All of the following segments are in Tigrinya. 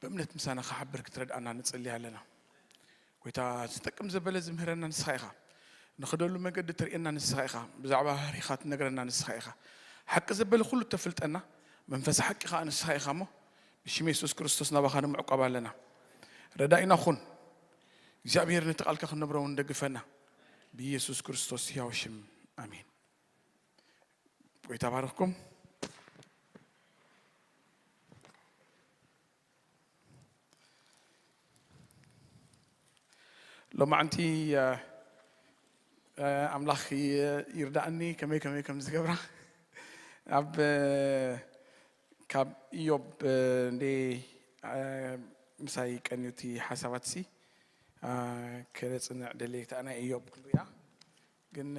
ብእምነት ምሳና ክሓብር ክትረድኣና ንጽሊ ኣለና ጎይታ ዝጠቅም ዘበለ ዝምህረና ንስኻ ኢኻ ንኽደሉ መገዲ ትርእየና ንስኻ ኢኻ ብዛዕባ ህሪኻ ትነግረና ንስኻ ኢኻ ሓቂ ዘበለ ኩሉ ተፍልጠና መንፈስ ሓቂ ከዓ ንስኻ ኢኻ እሞ ብሽም የሱስ ክርስቶስ ናባኻ ንምዕቋብ ኣለና ረዳኢና ኹን እግዚኣብሔር ነቲ ቃልካ ክንነብረውን ደግፈና ብኢየሱስ ክርስቶስ ሕያው ሽም ኣሜን ጎይታ ባርኽኩም። ሎማዕንቲ ኣምላኽ ይርዳእኒ ከመይ ከመይ ከም ዝገብራ ኣብ ካብ ኢዮብ እንዴ ምሳይ ቀንዩቲ ሓሳባትሲ ከነፅንዕ ደልየ እታ ናይ ኢዮብ ክሉያ ግን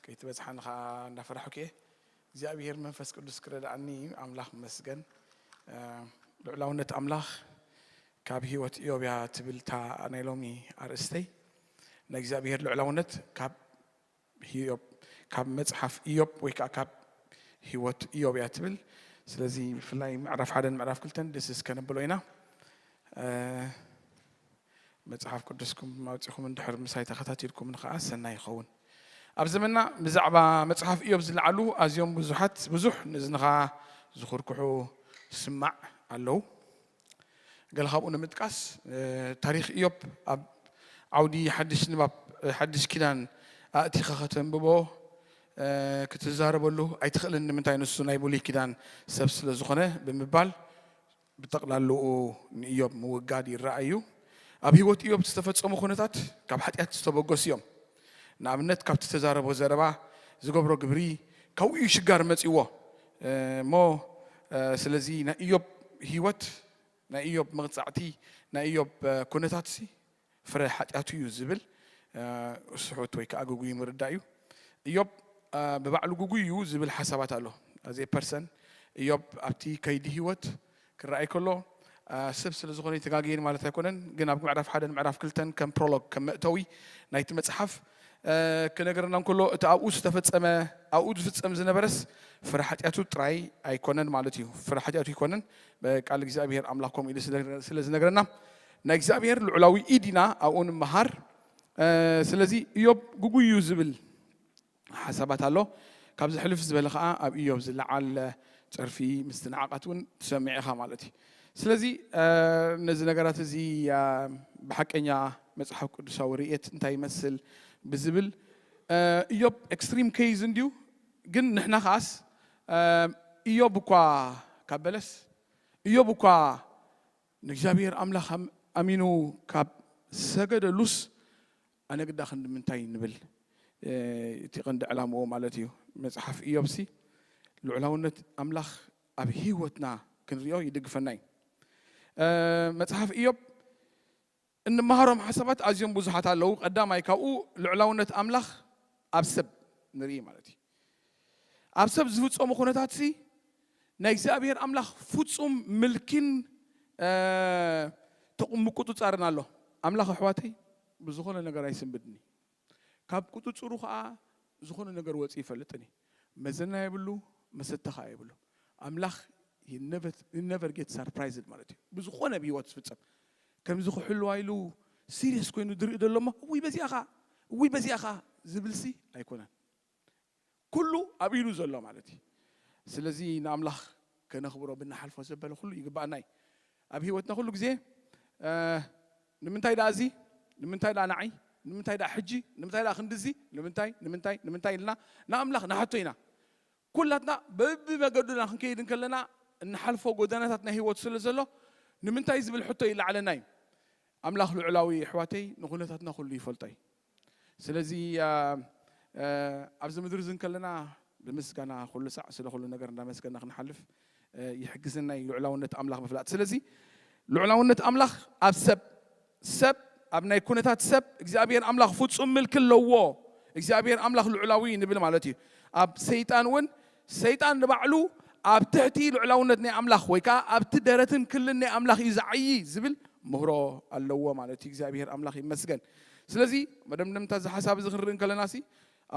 ከይትበጽሓኒ ከኣ እንዳፈራሕኩ'የ እግዚኣብሄር መንፈስ ቅዱስ ክረድኣኒ ኣምላኽ ይመስገን። ልዑላውነት ኣምላኽ ካብ ህይወት እዮብ እያ ትብል እታ ናይ ሎሚ ኣርእስተይ። ናይ እግዚኣብሄር ልዑላውነት ካብ ህዮብ ካብ መጽሓፍ እዮብ ወይ ከኣ ካብ ህይወት እዮብ እያ ትብል። ስለዚ ብፍላይ ምዕራፍ ሓደን ምዕራፍ ክልተን ድስስ ከነብሎ ኢና። መጽሓፍ ቅዱስኩም ኣውጺኹም እንድሕር ምሳይ ተኸታቲልኩምን ኸኣ ሰናይ ይኸውን። ኣብ ዘመንና ብዛዕባ መጽሓፍ እዮብ ዝለዓሉ ኣዝዮም ብዙሓት ብዙሕ ንእዝንኻ ዝኹርኩሑ ስማዕ ኣለዉ። ገለ ካብኡ ንምጥቃስ ታሪኽ እዮብ ኣብ ዓውዲ ሓድሽ ንባብ ሓድሽ ኪዳን ኣእቲኻ ከተንብቦ ክትዛረበሉ ኣይትኽእልን ንምንታይ ንሱ ናይ ብሉይ ኪዳን ሰብ ስለ ዝኾነ ብምባል ብጠቕላልኡ ንእዮብ ምውጋድ ይረኣ እዩ። ኣብ ህይወት እዮብ ዝተፈጸሙ ኩነታት ካብ ሓጢኣት ዝተበገሱ እዮም። ንኣብነት ካብቲ ዝተዛረቦ ዘረባ፣ ዝገብሮ ግብሪ፣ ካብኡ እዩ ሽጋር መጺእዎ እሞ ስለዚ ናይ እዮብ ህይወት ናይ እዮብ መቕጻዕቲ ናይ እዮብ ኩነታትሲ ፍረ ሓጢኣቱ እዩ ዝብል ስሑት ወይ ከዓ ግጉይ ምርዳእ እዩ። እዮብ ብባዕሉ ግጉይ እዩ ዝብል ሓሳባት ኣሎ። ኣዜ ፐርሰን እዮብ ኣብቲ ከይዲ ህይወት ክረኣይ ከሎ ሰብ ስለ ዝኾነ ተጋግየን ማለት ኣይኮነን። ግን ኣብ ምዕራፍ ሓደን ምዕራፍ ክልተን ከም ፕሮሎግ ከም መእተዊ ናይቲ መፅሓፍ ክነገረና እንከሎ እቲ ኣብኡ ዝተፈፀመ ኣብኡ ዝፍፀም ዝነበረስ ፍረ ሓጢኣቱ ጥራይ ኣይኮነን ማለት እዩ። ፍረ ሓጢኣቱ ይኮነን ብቃል እግዚኣብሔር ኣምላክ ከምኡ ኢሉ ስለ ዝነግረና ናይ እግዚኣብሔር ልዑላዊ ኢድ ኢና ኣብኡ ንምሃር ስለዚ እዮብ ግጉይ እዩ ዝብል ሓሳባት ኣሎ ካብዚ ሕልፍ ዝበለ ከዓ ኣብ እዮብ ዝለዓል ፀርፊ ምስትንዓቃት እውን ትሰምዕ ኢኻ ማለት እዩ ስለዚ ነዚ ነገራት እዚ ብሓቀኛ መፅሓፍ ቅዱሳዊ ርእየት እንታይ ይመስል ብዝብል እዮብ ኤክስትሪም ኬዝ እንድዩ ግን ንሕና ከዓስ እዮብ እኳ ካብ በለስ እዮብ እኳ ንእግዚኣብሄር ኣምላኽ ኣሚኑ ካብ ሰገደሉስ ኣነ ግዳ ክንድምንታይ ንብል እቲ ቀንዲ ዕላምኡ ማለት እዩ። መጽሓፍ እዮብሲ ልዑላውነት ኣምላኽ ኣብ ህይወትና ክንሪኦ ይድግፈና እዩ። መጽሓፍ እዮብ እንመሃሮም ሓሳባት ኣዝዮም ብዙሓት ኣለዉ፣ ቀዳማይ ካብኡ ልዑላውነት ኣምላኽ ኣብ ሰብ ንርኢ ማለት እዩ። ኣብ ሰብ ዝፍጸሙ ኩነታትሲ ናይ እግዚኣብሄር ኣምላኽ ፍጹም ምልኪን ምቁጽጻርን ኣሎ። ኣምላኽ ኣሕዋተይ ብዝኾነ ነገር ኣይስንብድን እዩ። ካብ ቁጽጽሩ ከኣ ዝኾነ ነገር ወጺኡ ይፈልጥን እዩ መዘና የብሉ መሰተ ከኣ የብሉ ኣምላኽ he never he never get surprised ማለት እዩ ብዝኾነ ኣብ ሂወት ዝፍጸም ከምዚ ክሕልዋ ኢሉ ሲርየስ ኮይኑ ዝርኢ ዘሎ እሞ እውይ በዚኣ ከኣ እውይ በዚኣ ከኣ ዝብልሲ ኣይኮነን ኩሉ ኣብ ኢዱ ዘሎ ማለት እዩ ስለዚ ንኣምላኽ ከነኽብሮ ብንሓልፎ ዘበለ ኩሉ ይግባኣና እዩ ኣብ ሂወትና ኩሉ ግዜ ንምንታይ ደኣ እዚ ንምንታይ ደኣ ንዓይ ንምንታይ ደኣ ሕጂ ንምንታይ ደኣ ክንድዚ ንምንታይ ንምንታይ ንምንታይ ኢልና ንኣምላኽ ንሓቶ ኢና ኩላትና በብመገዱና ክንከይድ እንከለና እንሓልፎ ጎደናታት ናይ ሂወት ስለ ዘሎ ንምንታይ ዝብል ሕቶ ይለዓለና እዩ ኣምላኽ ልዑላዊ እዩ ኣሕዋተይ ንኩነታትና ኩሉ ይፈልጦ እዩ ስለዚ ኣብዚ ምድሪ እዚ እንከለና ብምስጋና ኩሉ ሳዕ ስለ ኩሉ ነገር እንዳመስገና ክንሓልፍ ይሕግዘና እዩ ልዑላውነት ኣምላኽ ምፍላጥ። ስለዚ ልዑላውነት ኣምላኽ ኣብ ሰብ ሰብ ኣብ ናይ ኩነታት ሰብ እግዚኣብሔር ኣምላኽ ፍጹም ምልኪ ኣለዎ። እግዚኣብሔር ኣምላኽ ልዑላዊ ንብል ማለት እዩ። ኣብ ሰይጣን እውን ሰይጣን ንባዕሉ ኣብ ትሕቲ ልዑላውነት ናይ ኣምላኽ ወይ ከኣ ኣብቲ ደረትን ክልን ናይ ኣምላኽ እዩ ዝዓዪ ዝብል ምህሮ ኣለዎ ማለት እዩ። እግዚኣብሄር ኣምላኽ ይመስገን። ስለዚ መደምደምታ እዚ ሓሳብ እዚ ክንርኢ እንከለናሲ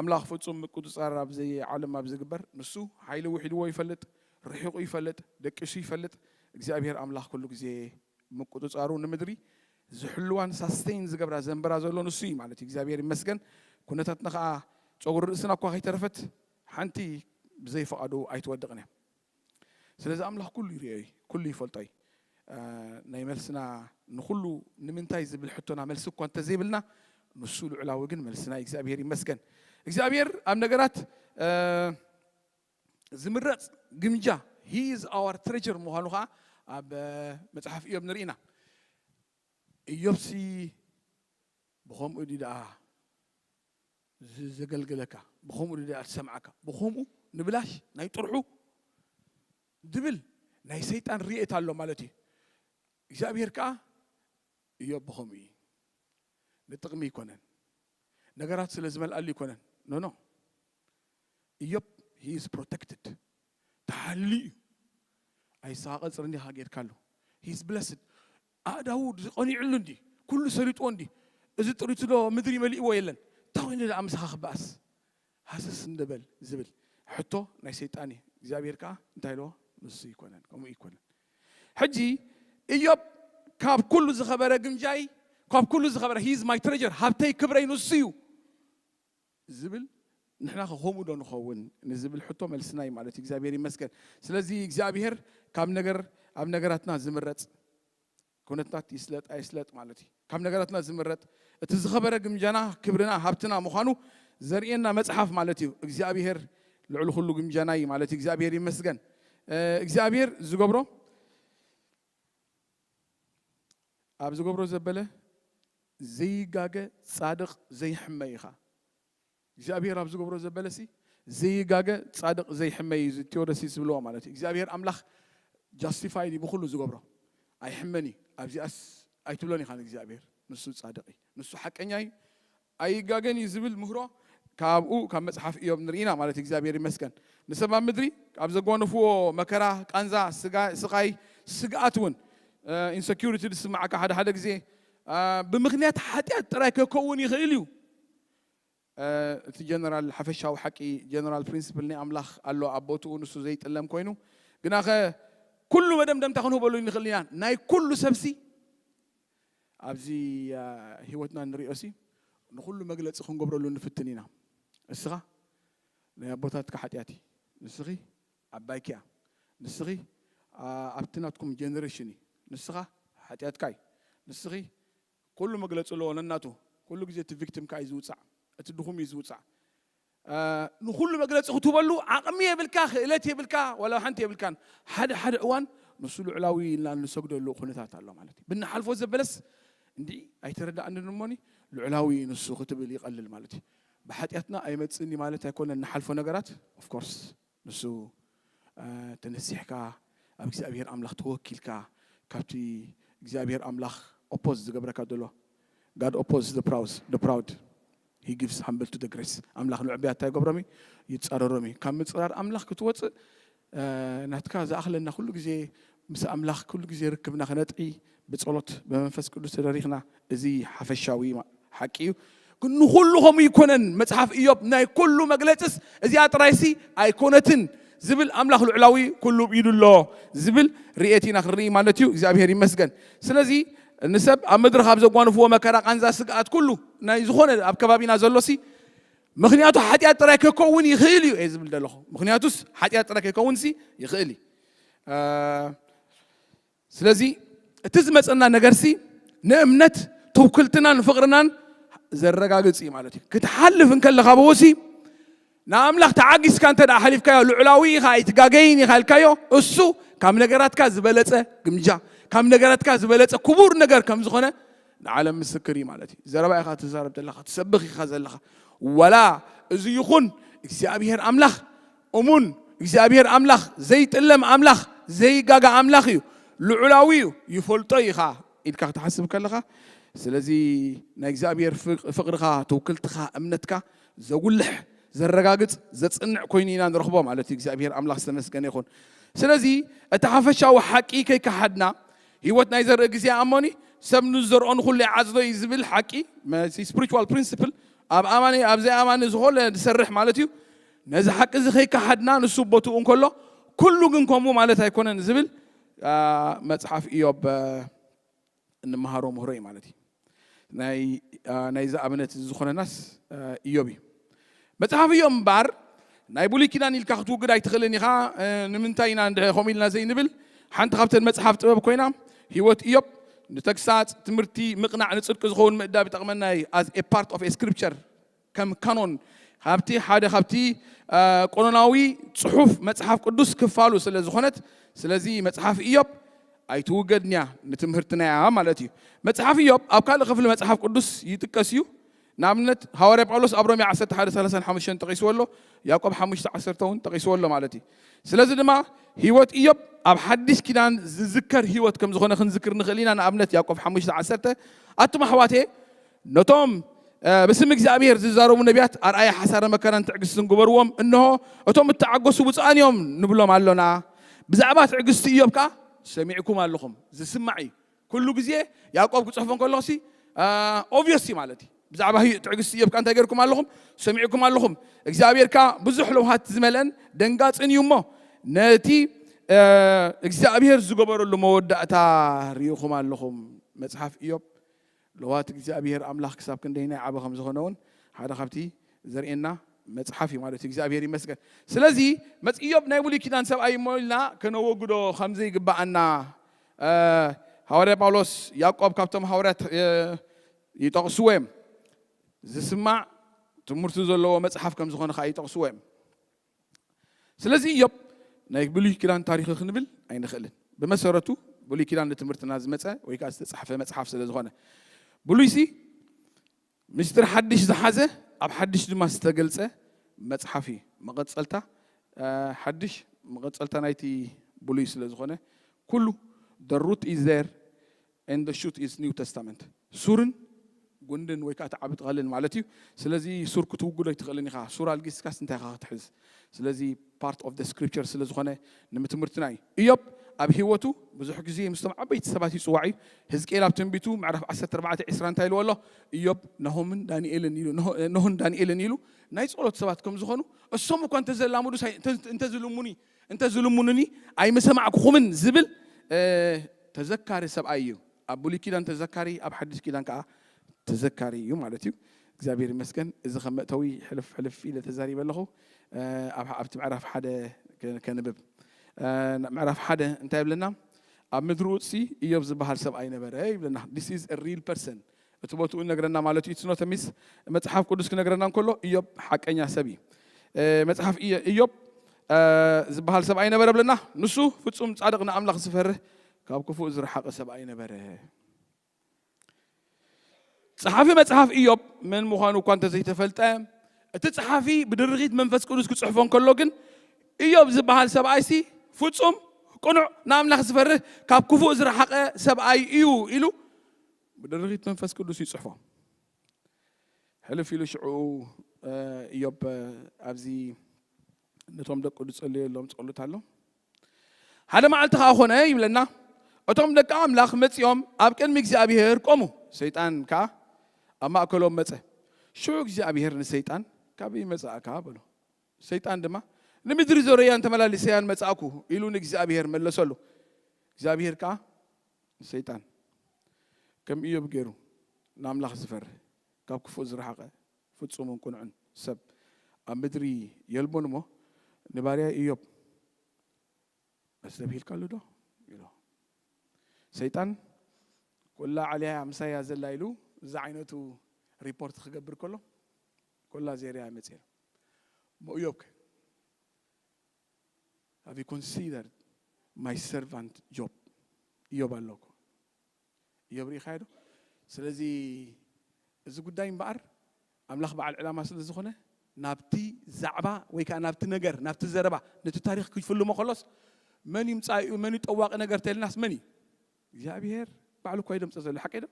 ኣምላኽ ፍጹም ምቁጽጻር ኣብዚ ዓለም ኣብ ዝግበር ንሱ ሓይሊ ውሒድዎ ይፈልጥ፣ ርሒቑ ይፈልጥ፣ ደቂሱ ይፈልጥ። እግዚኣብሄር ኣምላኽ ኩሉ ግዜ ምቁጽጻሩ ንምድሪ ዝሕልዋን ሳስተይን ዝገብራ ዘንብራ ዘሎ ንሱ እዩ ማለት እዩ። እግዚኣብሄር ይመስገን። ኩነታትና ከኣ ጸጉሪ ርእስና እኳ ከይተረፈት ሓንቲ ብዘይ ፍቃዱ ኣይትወድቅን እያ ስለዚ ኣምላኽ ኩሉ ይሪኦ እዩ ኩሉ ይፈልጦ እዩ ናይ መልስና ንኩሉ ንምንታይ ዝብል ሕቶና መልሲ እኳ እንተዘይብልና ንሱ ልዑላዊ ግን መልስና እግዚኣብሔር ይመስገን እግዚኣብሔር ኣብ ነገራት ዝምረጽ ግምጃ ሂ ኢዝ ኣዋር ትሬጀር ምዃኑ ከዓ ኣብ መጽሓፍ እዮብ ንርኢና እዮብሲ ብኸምኡ ድዩ ደኣ ዘገልግለካ ብከምኡ ድድኣ ትሰምዓካ ብከምኡ ንብላሽ ናይ ጥርሑ ድብል ናይ ሰይጣን ርየት ኣሎ ማለት እዩ እግዚኣብሔር ከኣ እዮብ ብከምኡ እዩ ንጥቅሚ ኣይኮነን ነገራት ስለ ዝመልኣሉ ኣይኮነን ኖኖ እዮብ ሂ ኢዝ ፕሮተክትድ ተሓልዩ እዩ ኣይሰቃቀጽርን ዲኻ ጌርካሉ ሂ ኢዝ ብለስድ ኣእዳዉ ድዩ ቀኒዑሉ እንዲ ኩሉ ሰሊጥዎ እንዲ እዚ ጥሪቱዶ ምድሪ መሊእዎ የለን ታኮይኑ ደኣ ምሳካ ክበኣስ ሃሰስ እንዶ በል ዝብል ሕቶ ናይ ሰይጣን እዩ እግዚኣብሄር ከኣ እንታይ ኢልዎ ንሱ ኣይኮነን ከምኡ ኣይኮነን ሕጂ እዮብ ካብ ኩሉ ዝኸበረ ግምጃይ ካብ ኩሉ ዝኸበረ ሂዝ ማይ ትረጀር ሃብተይ ክብረይ ንሱ እዩ ዝብል ንሕናኸ ከምኡ ዶ ንኸውን ንዝብል ሕቶ መልስና እዩ ማለት እዩ እግዚኣብሔር ይመስገን ስለዚ እግዚኣብሔር ካብ ነገር ኣብ ነገራትና ዝምረፅ ኩነትታት ይስለጥ ኣይስለጥ ማለት እዩ ካብ ነገራትና ዝምረጥ እቲ ዝኸበረ ግምጃና ክብርና ሃብትና ምዃኑ ዘርእየና መፅሓፍ ማለት እዩ እግዚኣብሔር ልዕሊ ኩሉ ግምጃና እዩ ማለት እዩ እግዚኣብሔር ይመስገን እግዚኣብሔር ዝገብሮ ኣብ ዝገብሮ ዘበለ ዘይጋገ ጻድቕ ዘይሕመ ኢኻ። እግዚኣብሄር ኣብ ዝገብሮ ዘበለሲ ዘይጋገ ጻድቕ ዘይሕመ እዩ እዚ ቴዎደሲስ ዝብልዎ ማለት እዩ። እግዚኣብሄር ኣምላኽ ጃስቲፋይድ እዩ ብኹሉ ዝገብሮ ኣይሕመን እዩ። ኣብዚኣስ ኣይትብሎን ኢኻ ንእግዚኣብሄር ንሱ ጻድቕ እዩ ንሱ ሓቀኛ እዩ ኣይጋገን እዩ ዝብል ምህሮ ካብኡ ካብ መጽሓፍ እዮብ ንርኢ ኢና ማለት እዩ እግዚኣብሔር ይመስገን ንሰብ ኣብ ምድሪ ካብ ዘጓነፍዎ መከራ ቃንዛ ስቃይ ስግኣት እውን ኢንሰኪሪቲ ዝስማዓካ ሓደ ሓደ ግዜ ብምክንያት ሓጢኣት ጥራይ ከከውን ይኽእል እዩ እቲ ጀነራል ሓፈሻዊ ሓቂ ጀነራል ፕሪንስፕል ናይ ኣምላኽ ኣሎ ኣብ ቦትኡ ንሱ ዘይጥለም ኮይኑ ግናኸ ኩሉ መደምደምታ ክንህበሉ ንኽእል ኢና ናይ ኩሉ ሰብሲ ኣብዚ ህይወትና እንርእዮሲ ንኹሉ መግለጺ ክንገብረሉ ንፍትን ኢና። እስኻ ናይ ኣቦታትካ ሓጢኣት እዪ። ንስኺ ዓባይኪ እያ። ንስኺ ኣብቲ ናትኩም ጀነሬሽን እዪ። ንስኻ ሓጢኣትካ እዪ። ንስኺ ኩሉ መግለጺ ኣለዎ ነናቱ። ኩሉ ግዜ እቲ ቪክቲም ከኣ እዩ ዝውጻዕ። እቲ ድኹም እዩ ዝውጻዕ። ንኹሉ መግለጺ ክትህበሉ ዓቕሚ የብልካ፣ ክእለት የብልካ፣ ዋላ ሓንቲ የብልካን። ሓደ ሓደ እዋን ንሱ ልዑላዊ ኢልና እንሰግደሉ ኩነታት ኣሎ ማለት እዩ። ብንሓልፎ ዘበለስ እንድዒ ኣይተረድኣንን እሞኒ ልዑላዊ እዩ ንሱ ክትብል ይቐልል ማለት እዩ። ብሓጢኣትና ኣይመጽእን እዩ ማለት ኣይኮነን ንሓልፎ ነገራት of course። ንሱ ተነሲሕካ ኣብ እግዚኣብሄር ኣምላኽ ተወኪልካ ካብቲ እግዚኣብሄር ኣምላኽ ኦፖዝ ዝገብረካ ዘሎ ጋድ ኦፖዝ ዘ ፕራውዝ ዘ ፕራውድ ሂ ጊቭስ ሃምብል ቱ ዘ ግሬስ ኣምላኽ ንዕቡያት እንታይ ይገብሮም እዩ ይጻረሮም እዩ ካብ ምጽራር ኣምላኽ ክትወጽእ ናትካ ዝኣኽለና ኩሉ ግዜ ምስ ኣምላኽ ኩሉ ግዜ ርክብና ክነጥዒ ብጸሎት ብመንፈስ ቅዱስ ተደሪኽና እዚ ሓፈሻዊ ሓቂ እዩ ግን ንኹሉ ከምኡ ይኮነን መጽሓፍ እዮብ ናይ ኩሉ መግለጽስ እዚኣ ጥራይሲ ኣይኮነትን ዝብል ኣምላኽ ልዑላዊ ኩሉ ብ ኢዱ ኣሎ ዝብል ርኤት ኢና ክንርኢ ማለት እዩ እግዚኣብሄር ይመስገን ስለዚ ንሰብ ኣብ ምድሪ ካብ ዘጓንፍዎ መከራ ቃንዛ ስግኣት ኩሉ ናይ ዝኾነ ኣብ ከባቢና ዘሎሲ ምክንያቱ ሓጢኣት ጥራይ ከከውን ይኽእል እዩ እየ ዝብል ዘለኹ ምክንያቱስ ሓጢኣት ጥራይ ከከውንሲ ይኽእል እዩ ስለዚ እቲ ዝመጸና ነገርሲ ንእምነት ትውክልትናን ፍቕርናን ዘረጋግጽ እዩ ማለት እዩ። ክትሓልፍ እንከለኻ ብኡሲ ንኣምላኽ ተዓጊስካ እንተ ሓሊፍካዮ ልዑላዊ ኢኻ ኣይትጋገይን ኢኻ ኢልካዮ እሱ ካብ ነገራትካ ዝበለጸ ግምጃ ካብ ነገራትካ ዝበለጸ ክቡር ነገር ከም ዝኾነ ንዓለም ምስክር እዩ ማለት እዩ ዘረባ ኢኻ ትዛረብ ዘለኻ ትሰብኽ ኢኻ ዘለኻ ዋላ እዚ ይኹን እግዚኣብሄር ኣምላኽ እሙን እግዚኣብሄር ኣምላኽ ዘይጥለም ኣምላኽ ዘይጋገ ኣምላኽ እዩ ልዑላዊ እዩ ይፈልጦ እዩ ከኣ ኢልካ ክትሓስብ ከለኻ ስለዚ ናይ እግዚኣብሄር ፍቕርኻ ትውክልትኻ እምነትካ ዘጉልሕ ዘረጋግጽ ዘጽንዕ ኮይኑ ኢና ንረኽቦ ማለት እዩ እግዚኣብሄር ኣምላኽ ዝተመስገነ ይኹን ስለዚ እቲ ሓፈሻዊ ሓቂ ከይከሓድና ህይወት ናይ ዘርኢ ግዜ ኣሞኒ ሰብ ንዝዘርኦ ንኹሉ ይዓጽዶ እዩ ዝብል ሓቂ ስፕሪቹዋል ፕሪንስፕል ኣብ ኣማኒ ኣብ ዘይኣማኒ ዝኾነ ዝሰርሕ ማለት እዩ ነዚ ሓቂ እዚ ከይከሓድና ንሱ ኣብ ቦትኡ እንከሎ ኩሉ ግን ከምኡ ማለት ኣይኮነን ዝብል መጽሓፍ እዮብ እንመሃሮ ምህሮ እዩ ማለት እዩ ናይዚ ኣብነት እዚ ዝኾነናስ እዮብ እዩ መጽሓፍ እዮብ እምበኣር ናይ ብሉይ ኪዳን ኢልካ ክትውግድ ኣይትኽእልን ኢኻ ንምንታይ ኢና እንድሕ ከምኡ ኢልና ዘይንብል ሓንቲ ካብተን መጽሓፍ ጥበብ ኮይና ህይወት እዮብ ንተግሳጽ ትምህርቲ ምቕናዕ ንጽድቂ ዝኸውን ምእዳብ ይጠቕመና እዩ ኣዝ ኤ ፓርት ኦፍ ኤ ስክሪፕቸር ከም ካኖን ካብቲ ሓደ ካብቲ ቆኖናዊ ጽሑፍ መጽሓፍ ቅዱስ ክፋሉ ስለ ዝኾነት ስለዚ መጽሓፍ ኢዮብ ኣይትውገድንያ ንትምህርትናያ ማለት እዩ መጽሓፍ ኢዮብ ኣብ ካልእ ክፍሊ መጽሓፍ ቅዱስ ይጥቀስ እዩ ንኣብነት ሃዋርያ ጳውሎስ ኣብ ሮሜ 1135 ጠቂስዎ ኣሎ ያዕቆብ 5ዓሰርተ እውን ጠቂስዎ ኣሎ ማለት እዩ ስለዚ ድማ ህይወት እዮብ ኣብ ሓድሽ ኪዳን ዝዝከር ህይወት ከም ዝኾነ ክንዝክር ንኽእል ኢና ንኣብነት ያዕቆብ 5ዓሰርተ ኣቱም ኣሕዋቴ ነቶም ብስም እግዚኣብሄር ዝዛረቡ ነቢያት ኣርኣያ ሓሳረ መከራን ትዕግስትን ግበርዎም፣ እንሆ፣ እቶም እተዓገሱ ብፁዓን እዮም ንብሎም ኣሎና። ብዛዕባ ትዕግስቲ እዮብ ከኣ ሰሚዕኩም ኣሎኹም፣ ዝስማዕ እዩ። ኩሉ ግዜ ያእቆብ ክጽሕፎ እንከሎ'ሲ ኦብቪየስ እዩ ማለት እዩ። ብዛዕባ ትዕግስቲ እዮብ ከኣ እንታይ ጌርኩም ኣሎኹም? ሰሚዕኩም ኣሎኹም። እግዚኣብሄር ከኣ ብዙሕ ለውሃት ዝመልአን ደንጋጽን እዩ እሞ፣ ነቲ እግዚኣብሄር ዝገበረሉ መወዳእታ ርኢኹም ኣሎኹም። መጽሓፍ እዮብ ለዋህት እግዚኣብሄር ኣምላኽ ክሳብ ክንደይናይ ዓቢ ከም ዝኾነ ውን ሓደ ካብቲ ዘርእየና መጽሓፍ እዩ ማለት እዩ። እግዚኣብሄር ይመስገን። ስለዚ መጽ ኢዮብ ናይ ብሉይ ኪዳን ሰብኣይ እዩ እሞ ኢልና ከነወግዶ ከም ዘይግብኣና ሃዋርያ ጳውሎስ ያዕቆብ ካብቶም ሃዋርያት ይጠቕስዎ እዮም። ዝስማዕ ትምህርቱ ዘለዎ መጽሓፍ ከም ዝኾነ ከኣ ይጠቕስዎ እዮም። ስለዚ ኢዮብ ናይ ብሉይ ኪዳን ታሪኽ ክንብል ኣይንኽእልን። ብመሰረቱ ብሉይ ኪዳን ንትምህርትና ዝመጸ ወይ ከኣ ዝተጻሕፈ መጽሓፍ ስለ ዝኾነ ብሉይሲ ምስጢር ሓድሽ ዝሓዘ ኣብ ሓድሽ ድማ ዝተገልጸ መጽሓፍ እዩ። መቐጸልታ ሓድሽ መቐጸልታ ናይቲ ብሉይ ስለ ዝኾነ ኩሉ the root is there and the shoot is new testament ሱርን ጉንድን ወይ ከኣ እቲ ዓቢ ተኸልን ማለት እዩ ስለዚ ሱር ክትውግዶ ኣይትኽእልን ኢኻ ሱር ኣልጊስካስ እንታይ ኢኻ ክትሕዝ ስለዚ ፓርት ኦፍ ደ ስክሪፕቸር ስለ ዝኾነ ንምትምህርትና እዩ እዮብ ኣብ ህይወቱ ብዙሕ ግዜ ምስቶም ዓበይቲ ሰባት ይፅዋዕ እዩ ህዝቅኤል ኣብ ትንቢቱ ምዕራፍ 14 20 እንታይ ኢልዎ ኣሎ እዮብ ነሆምን ዳንኤልን ኢሉ ነሆን ዳንኤልን ኢሉ ናይ ጸሎት ሰባት ከም ዝኾኑ እሶም እኳ እንተዘላምዱ እንተዝልሙኒ እንተ ዝልሙኑኒ ኣይምሰማዕኩኹምን ዝብል ተዘካሪ ሰብኣይ እዩ። ኣብ ብሉይ ኪዳን ተዘካሪ ኣብ ሓድሽ ኪዳን ከኣ ተዘካሪ እዩ ማለት እዩ። እግዚኣብሔር ይመስገን እዚ ከም መእተዊ ሕልፍ ሕልፍ ኢለ ተዛሪበ ኣለኹ። ኣብቲ ምዕራፍ ሓደ ከንብብ ምዕራፍ ሓደ እንታይ ይብለና? ኣብ ምድሪ ኡጽሲ ኢዮብ ዝበሃል ሰብኣይ ነበረ ይብለና። ዲስ ኢዝ ሪል ፐርሰን እቲ ቦትኡ ይነግረና ማለት እዩ። It's not a myth። መጽሓፍ ቅዱስ ክነግረና እንከሎ እዮብ ሓቀኛ ሰብ እዩ። መጽሓፍ እዮብ ዝበሃል ሰብኣይ ነበረ ብለና። ንሱ ፍጹም ጻድቕ ንኣምላኽ ዝፈርህ ካብ ክፉእ ዝረሓቐ ሰብኣይ ነበረ። ጸሓፊ መጽሓፍ እዮብ መን ምዃኑ እኳ እንተዘይተፈልጠ እቲ ጸሓፊ ብድርኺት መንፈስ ቅዱስ ክጽሕፎ እንከሎ ግን እዮብ ዝበሃል ሰብኣይሲ ፍጹም ቅኑዕ ንኣምላኽ ዝፈርህ ካብ ክፉእ ዝረሓቐ ሰብኣይ እዩ ኢሉ ብድርኺት መንፈስ ቅዱስ ይጽሕፎ። ሕልፍ ኢሉ ሽዑኡ እዮብ ኣብዚ ነቶም ደቁ ዝጸለየሎም ጸሎት ኣሎ። ሓደ መዓልቲ ከኣ ኮነ ይብለና እቶም ደቂ ኣምላኽ መጺኦም ኣብ ቅድሚ እግዚኣብሄር ቆሙ፣ ሰይጣን ከኣ ኣብ ማእከሎም መጸ። ሽዑ እግዚኣብሄር ንሰይጣን ካበይ መጻእካ በሎ። ሰይጣን ድማ ንምድሪ ዞረያን ተመላሊሰያን መጻእኩ ኢሉ ንእግዚኣብሄር መለሰሉ። እግዚኣብሄር ከኣ ንሰይጣን ከም እዮብ ገይሩ ንኣምላኽ ዝፈርህ ካብ ክፉእ ዝረሓቐ ፍጹምን ቅኑዕን ሰብ ኣብ ምድሪ የልቦን እሞ ንባርያይ እዮብ ኣስተብሂልካሉዶ? ኢሎ። ሰይጣን ኮላ ዓልያያ ምሳይያ ዘላ ኢሉ ዝዓይነቱ ሪፖርት ክገብር ከሎ ኮላ ዜርያ መጽኤ እሞ እዮብከ? ሃቭ ዩ ኮንሲደርድ ማይ ሰርቫንት ጆብ እዮብ ኣሎ እኮ እዮብ ርኢኻዮ ዶ ስለዚ እዚ ጉዳይ እምበኣር ኣምላኽ በዓል ዕላማ ስለ ዝኾነ ናብቲ ዛዕባ ወይ ከዓ ናብቲ ነገር ናብቲ ዘረባ ነቲ ታሪኽ ክፍልሞ ከሎስ መን እዩ ምጻኢኡ መን እዩ ጠዋቂ ነገር ተልናስ መን እዩ እግዚኣብሄር ባዕሉ እኳ እዩ ደምፀ ዘሎ ሓቂ ዶ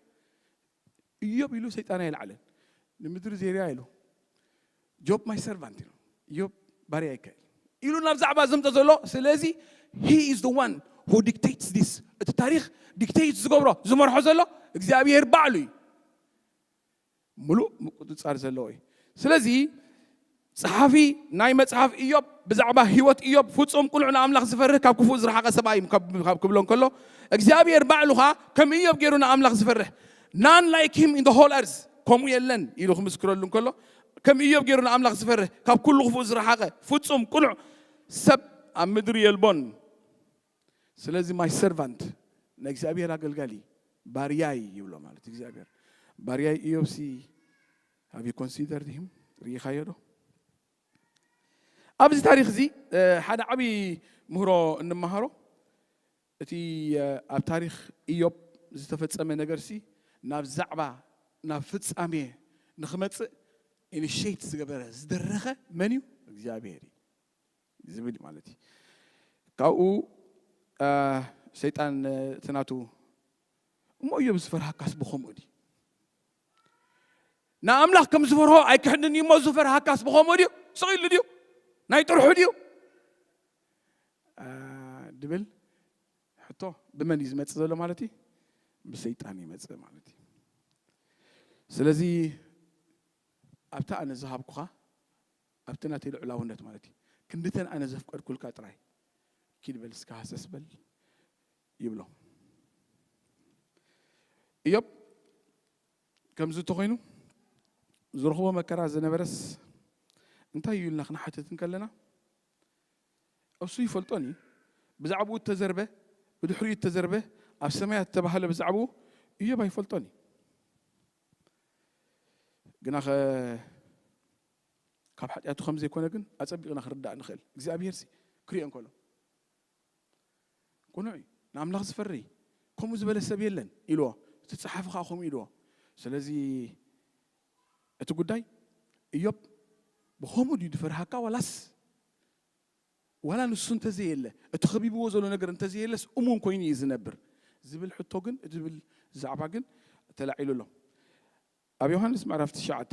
እዮብ ኢሉ ሰይጣን ኣይልዓለን ንምድሪ ዜርያ ኢሉ ጆብ ማይ ሰርቫንት ኢሉ እዮብ ባርያይ እከ ኢሉ ናብ ዛዕባ ዘምፀ ዘሎ ስለዚ ሂ ኢዝ ዘ ዋን ሁ ዲክቴትስ ዲስ እቲ ታሪክ ዲክቴት ዝገብሮ ዝመርሖ ዘሎ እግዚኣብሄር ባዕሉ እዩ ምሉእ ምቁፅፃር ዘለዎ እዩ ስለዚ ጸሓፊ ናይ መጽሓፍ እዮብ ብዛዕባ ህይወት እዮብ ፍጹም ቅኑዕ ንኣምላኽ ዝፈርህ ካብ ክፉእ ዝረሓቐ ሰብኣይ እዩ ካብ ክብሎ እንከሎ እግዚኣብሔር ባዕሉ ኸኣ ከም እዮብ ገይሩ ንኣምላኽ ዝፈርህ ናን ላይክ ሂም ኢን ሆል ኣርዝ ከምኡ የለን ኢሉ ክምስክረሉ እንከሎ ከም እዮብ ገይሩ ንኣምላኽ ዝፈርህ ካብ ኩሉ ክፉእ ዝረሓቐ ፍጹም ቅኑዕ ሰብ ኣብ ምድሪ የልቦን ስለዚ ማይ ሰርቫንት ናይ እግዚኣብሔር ኣገልጋሊ ባርያይ ይብሎ ማለት እግዚኣብሔር ባርያይ ኢዮብሲ Have you considered him? ርኢኻዮ ዶ? ኣብዚ ታሪኽ እዚ ሓደ ዓብዪ ምህሮ እንመሃሮ እቲ ኣብ ታሪኽ ኢዮብ ዝተፈጸመ ነገርሲ ናብ ዛዕባ ናብ ፍጻሜ ንክመጽእ ኢኒሽት ዝገበረ ዝደረኸ መን እዩ? እግዚኣብሔር እዩ ዝብል ማለት እዩ። ካብኡ ሰይጣን እቲ ናቱ እሞ እዮብ ዝፈርሃካስ ብኸምኡ ድዩ? ንኣምላኽ ከም ዝፈርሆ ኣይክሕድን እዩ እሞ ዝፈርሃካስ ብኸምኡ ድዩ? ስቕ ኢሉ ድዩ? ናይ ጥርሑ ድዩ? ድብል ሕቶ ብመን እዩ ዝመፅእ ዘሎ ማለት እዩ? ብሰይጣን ይመፅእ ማለት እዩ። ስለዚ ኣብቲ ኣነ ዝሃብኩኻ ኣብቲ ናተይ ልዑላውነት ማለት እዩ ክንድተን ኣነ ዘፍቀድኩልካ ጥራይ ኪድ በል እስካ ሃሰስ በል ይብሎ እዮብ ከምዚ እንተኾይኑ ዝረኽቦ መከራ ዝነበረስ እንታይ እዩ ኢልና ክንሓትት እንከለና እሱ ይፈልጦን እዩ ብዛዕባኡ እተዘርበ ብድሕሪኡ እተዘርበ ኣብ ሰማያት እተባህለ ብዛዕባኡ እዮብ ኣይፈልጦን እዩ ግና ኸ ካብ ሓጢኣቱ ከም ዘይኮነ ግን ኣጸቢቕና ክንርዳእ ንኽእል እግዚኣብሄር ክሪኦ እንከሎ ቅኑዕ እዩ፣ ንኣምላኽ ዝፈሪ ከምኡ ዝበለ ሰብ የለን ኢልዎ፣ እቲ ጸሓፊ ኸኣ ከምኡ ኢልዎ። ስለዚ፣ እቲ ጕዳይ እዮብ ብኸምኡ ድዩ ዝፈርሃካ ዋላስ ዋላ ንሱ እንተ ዘየለ እቲ ኸቢብዎ ዘሎ ነገር እንተ ዘየለስ እሙን ኰይኑ እዩ ዝነብር ዝብል ሕቶ ግን ዝብል ዛዕባ ግን ተላዒሉ ኣሎ። ኣብ ዮሃንስ ምዕራፍ ትሽዓተ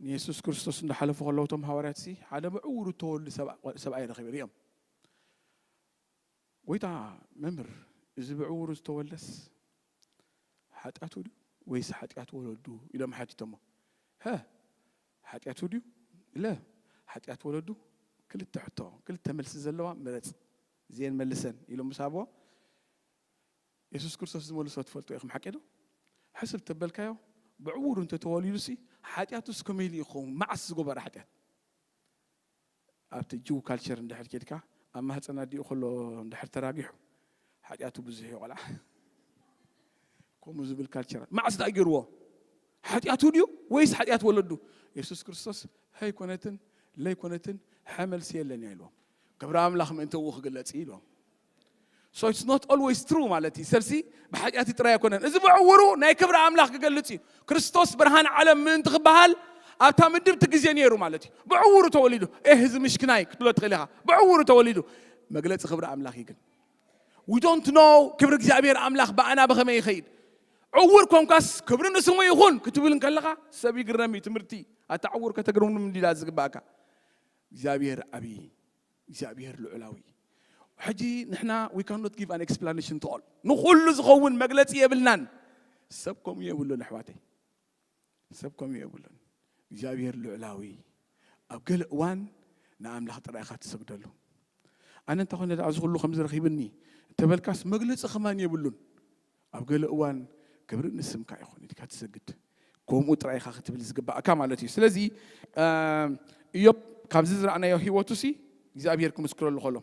ንየሱስ ክርስቶስ እንዳሓለፉ ከለዉ እቶም ሃዋርያትሲ ሓደ ምዕዉር እተወልዱ ሰብኣይ ረኺቡ ርእዮም። ጐይታ መምህር እዚ ብዕዉሩ ዝተወልደስ ሓጢኣቱ ድዩ ወይስ ሓጢኣት ወለዱ ኢሎም ሓቲቶሞ። ሀ ሓጢኣቱ ድዩ ለ ሓጢኣት ወለዱ ክልተ ሕቶ ክልተ መልሲ ዘለዋ ምረጽ እዚኤን መልሰን ኢሎም ምስ ሃብዎ የሱስ ክርስቶስ ዝመልሶ ትፈልጡ ኢኹም፣ ሓቂዶ? ሕስብ ተበልካዮ፣ ብዕዉሩ እንተ ተወሊዱሲ፣ ሓጢኣቱስ ከመይ ኢሉ እዩ ክኸውን፣ መዓስ ዝገበሮ ሓጢኣት? ኣብቲ ጅው ካልቸር እንድሕር ኬድካ፣ ኣብ ማህጸን ኣዲኡ ከሎ እንድሕር ተራጊሑ፣ ሓጢኣቱ ብዙሕ እዩ ቆልዓ። ከምኡ ዝብል ካልቸር ኣሎ። መዓስ ደኣ ገይርዎ? ሓጢኣቱ ድዩ ወይስ ሓጢኣት ወለዱ? የሱስ ክርስቶስ ሀይ ኮነትን ለይ ኮነትን ሐ መልሲ የለን እያ ኢልዎም። ክብሪ ኣምላኽ ምእንቲ እኡ ክግለጽ እዩ ኢልዎም። ሶ ኢትስ ኖት ኦልዌይስ ትሩ ማለት እዩ ሰብሲ ብሓጢኣት ጥራይ ኣይኮነን እዚ ብዕውሩ ናይ ክብሪ ኣምላኽ ክገልጽ እዩ ክርስቶስ ብርሃን ዓለም ምእንቲ ክበሃል ኣብታ ምድብ እቲ ግዜ ነይሩ ማለት እዩ ብዕውሩ ተወሊዱ ኤህ እዚ ምሽክናይ ክትብሎ ትኽእል ኢኻ ብዕውሩ ተወሊዱ መግለፂ ክብሪ ኣምላኽ እዩ ግን ዊ ዶንት ኖ ክብሪ እግዚኣብሔር ኣምላኽ ብኣና ብኸመይ ይኸይድ ዕውር ኮንካስ ክብሪ ንስሙ ይኹን ክትብል ከለኻ ሰብ ይግረም እዩ ትምህርቲ ኣታ ዕውር ከተግርም እንዲላ ዝግባእካ እግዚኣብሔር ዓብዪ እግዚኣብሄር ልዑላዊ እዩ። ሕጂ ንሕና we cannot give an explanation to all ንኹሉ ዝኸውን መግለጺ የብልናን። ሰብ ከምኡ የብሉን ኣሕዋተይ፣ ሰብ ከምኡ የብሉን። እግዚኣብሄር ልዑላዊ ኣብ ገለ እዋን ንኣምላኽ ጥራይ ኢኻ ትሰግደሉ። ኣነ እንተኾነ ደኣ እዚ ኩሉ ከምዚ ረኺብኒ እንተበልካስ መግለጺ ከማን የብሉን። ኣብ ገለ እዋን ክብሪ ንስምካ ይኹን ኢልካ ትሰግድ ከምኡ ጥራይ ኢኻ ክትብል ዝግባእካ ማለት እዩ ስለዚ እዮብ ካብዚ ዝረኣናዮ ህይወቱ ሲ እግዚኣብሄር ክምስክረሉ ከሎ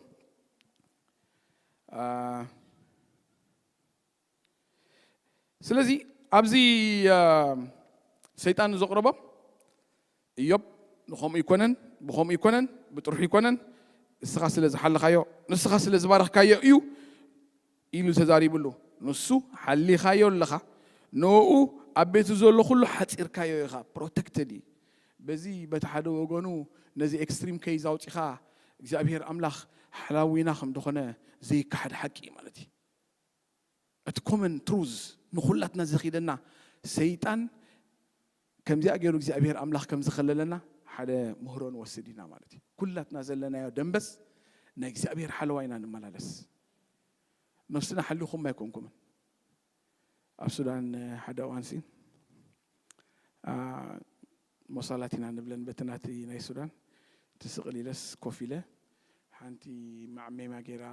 ስለዚ ኣብዚ ሰይጣን ዘቕረቦ እዮብ ንኸምኡ ኣይኮነን ብኸምኡ ኣይኮነን ብጥርሑ ኣይኮነን ንስኻ ስለ ዝሓለኻዮ ንስኻ ስለ ዝባረኽካዮ እዩ ኢሉ ተዛሪብሉ ንሱ ሓሊኻዮ ኣለኻ ንኡ ኣብ ቤቱ ዘሎ ኩሉ ሓጺርካዮ ኢኻ ፕሮተክትድ እዩ በዚ በቲ ሓደ ወገኑ ነዚ ኤክስትሪም ከይዝ ኣውጺኻ እግዚኣብሄር ኣምላኽ ሓላዊና ከም ዝኾነ ዘይከሓድ ሓቂ እዩ ማለት እዩ እቲ ኮመን ትሩዝ ንኹላትና ዘኺደና ሰይጣን ከምዚኣ ገይሩ እግዚኣብሄር ኣምላኽ ከም ዝኸለለና ሓደ ምህሮ ንወስድ ኢና ማለት እዩ። ኩላትና ዘለናዮ ደምበስ ናይ እግዚኣብሄር ሓለዋ ኢና ንመላለስ። ነፍስና ሓሊኹም ኣይኮንኩምን ኣብ ሱዳን ሓደ እዋንሲ ሞሳላት ኢና ንብለን በቲ ናቲ ናይ ሱዳን ትስቅል ኢለስ ኮፍ ኢለ ሓንቲ ማዕሜማ ጌራ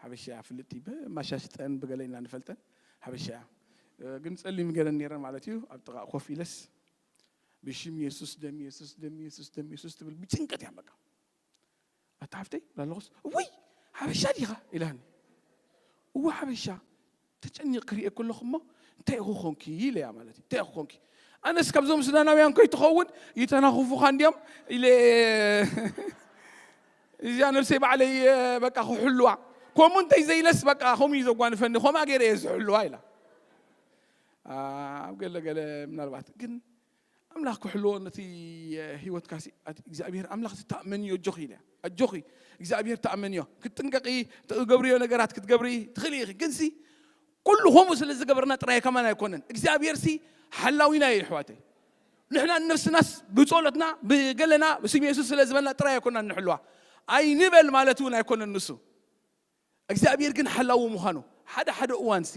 ሓበሻ እያ ፍልጥቲ ብማሻሽጠን ብገለ ኢና ንፈልጠን ሓበሻ እያ ግን ጸሊም ገረን ኔረን ማለት እዩ ኣብ ጥቃ ኮፍ ኢለስ ብሽም የሱስ ደም የሱስ ደም የሱስ ደም የሱስ ትብል ብጭንቀት እያ በቃ ኣታ ሓፍተይ ላለኹስ እውይ ሓበሻ ዲኻ ኢላኒ እወ ሓበሻ ተጨኒቕ ክሪኤ ከለኹ እሞ እንታይ ኢኹ ኮንኪ ኢለያ ማለት እዩ እንታይ ኢኹ ኮንኪ ኣነስ ካብዞም ሱዳናውያን ከይትኸውን ይተናኽፉኻ እንዲዮም ኢለ እዚኣ ነብሰይ ባዕለይ በቃ ክሕልዋ ከምኡ እንታይ ዘይለስ በቃ ከምኡ እዩ ዘጓንፈኒ ከምኣ ገይረ እየ ዝሕልዋ ኢላ ኣብ ገለ ገለ ምናልባት ግን ኣምላኽ ክሕልዎ ነቲ ህይወትካሲ እግዚኣብሔር ኣምላኽ ዝተኣመንዮ ኣጆኺ ኢለ ኣጆኺ እግዚኣብሔር ተኣመንዮ ክትጥንቀቂ ትገብርዮ ነገራት ክትገብሪ ትኽእሊ ኢኺ ግንሲ ኩሉ ከምኡ ስለ ዝገበርና ጥራይ ከማን ኣይኮነን እግዚኣብሔር ሲ ሓላዊና እዩ ኣሕዋተይ ንሕና ንነፍስናስ ብጸሎትና ብገለና ስም የሱስ ስለ ዝበልና ጥራይ ኣይኮና ንሕልዋ ኣይንበል ማለት እውን ኣይኮነን ንሱ እግዚኣብሔር ግን ሓላዊ ምዃኑ ሓደ ሓደ እዋንሲ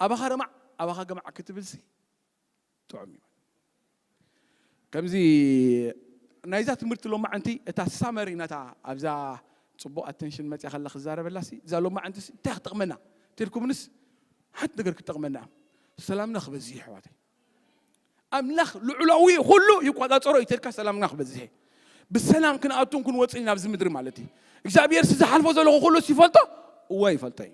ኣባኻ ረማዕ ኣባኻ ገማዕ ክትብልሲ ጥዑም እዩ ከምዚ ናይዛ ትምህርቲ ሎማዕንቲ እታ ሳመሪ ናታ ኣብዛ ፅቡቅ ኣቴንሽን መፅያ ከላ ክዛረበላ ሲ እዛ ሎማዕንቲ እንታይ ክጠቅመና ተልኩምንስ ሓንቲ ነገር ክጠቅመና ሰላምና ክበዝሕ ይሕዋተይ ኣምላኽ ልዑላዊ ኩሉ ይቆፃፀሮ እዩ ተልካ ሰላምና ክበዝሕ ብሰላም ክንኣቱን ክንወፅን ናብዚ ምድሪ ማለት እዩ እግዚኣብሔር ዝሓልፎ ዘለኹ ኩሉ ይፈልጦ እወ ይፈልጦ እዩ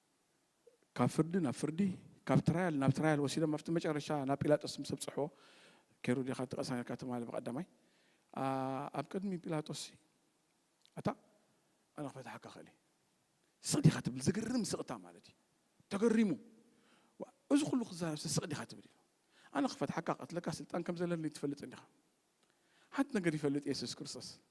ካብ ፍርዲ ናብ ፍርዲ ካብ ትራያል ናብ ትራያል ወሲዶም ኣብቲ መጨረሻ ናብ ጲላጦስ ምስ ኣብጽሕዎ ኬሩ ዲኻ እቲ ቀሳንካ ትማሊ ብቀዳማይ ኣብ ቅድሚ ጲላጦስ ኣታ ኣነ ክፈትሓካ ክእል ስቅ ዲኻ ትብል ዝግርም ስቅታ ማለት እዩ ተገሪሙ እዚ ኩሉ ክዛረብሲ ስቅ ዲኻ ትብል ኢሉ ኣነ ክፈትሓካ ቀትለካ ስልጣን ከም ዘለኒ ትፈልጥ እንዲኻ ሓንቲ ነገር ይፈልጥ የሱስ ክርስቶስ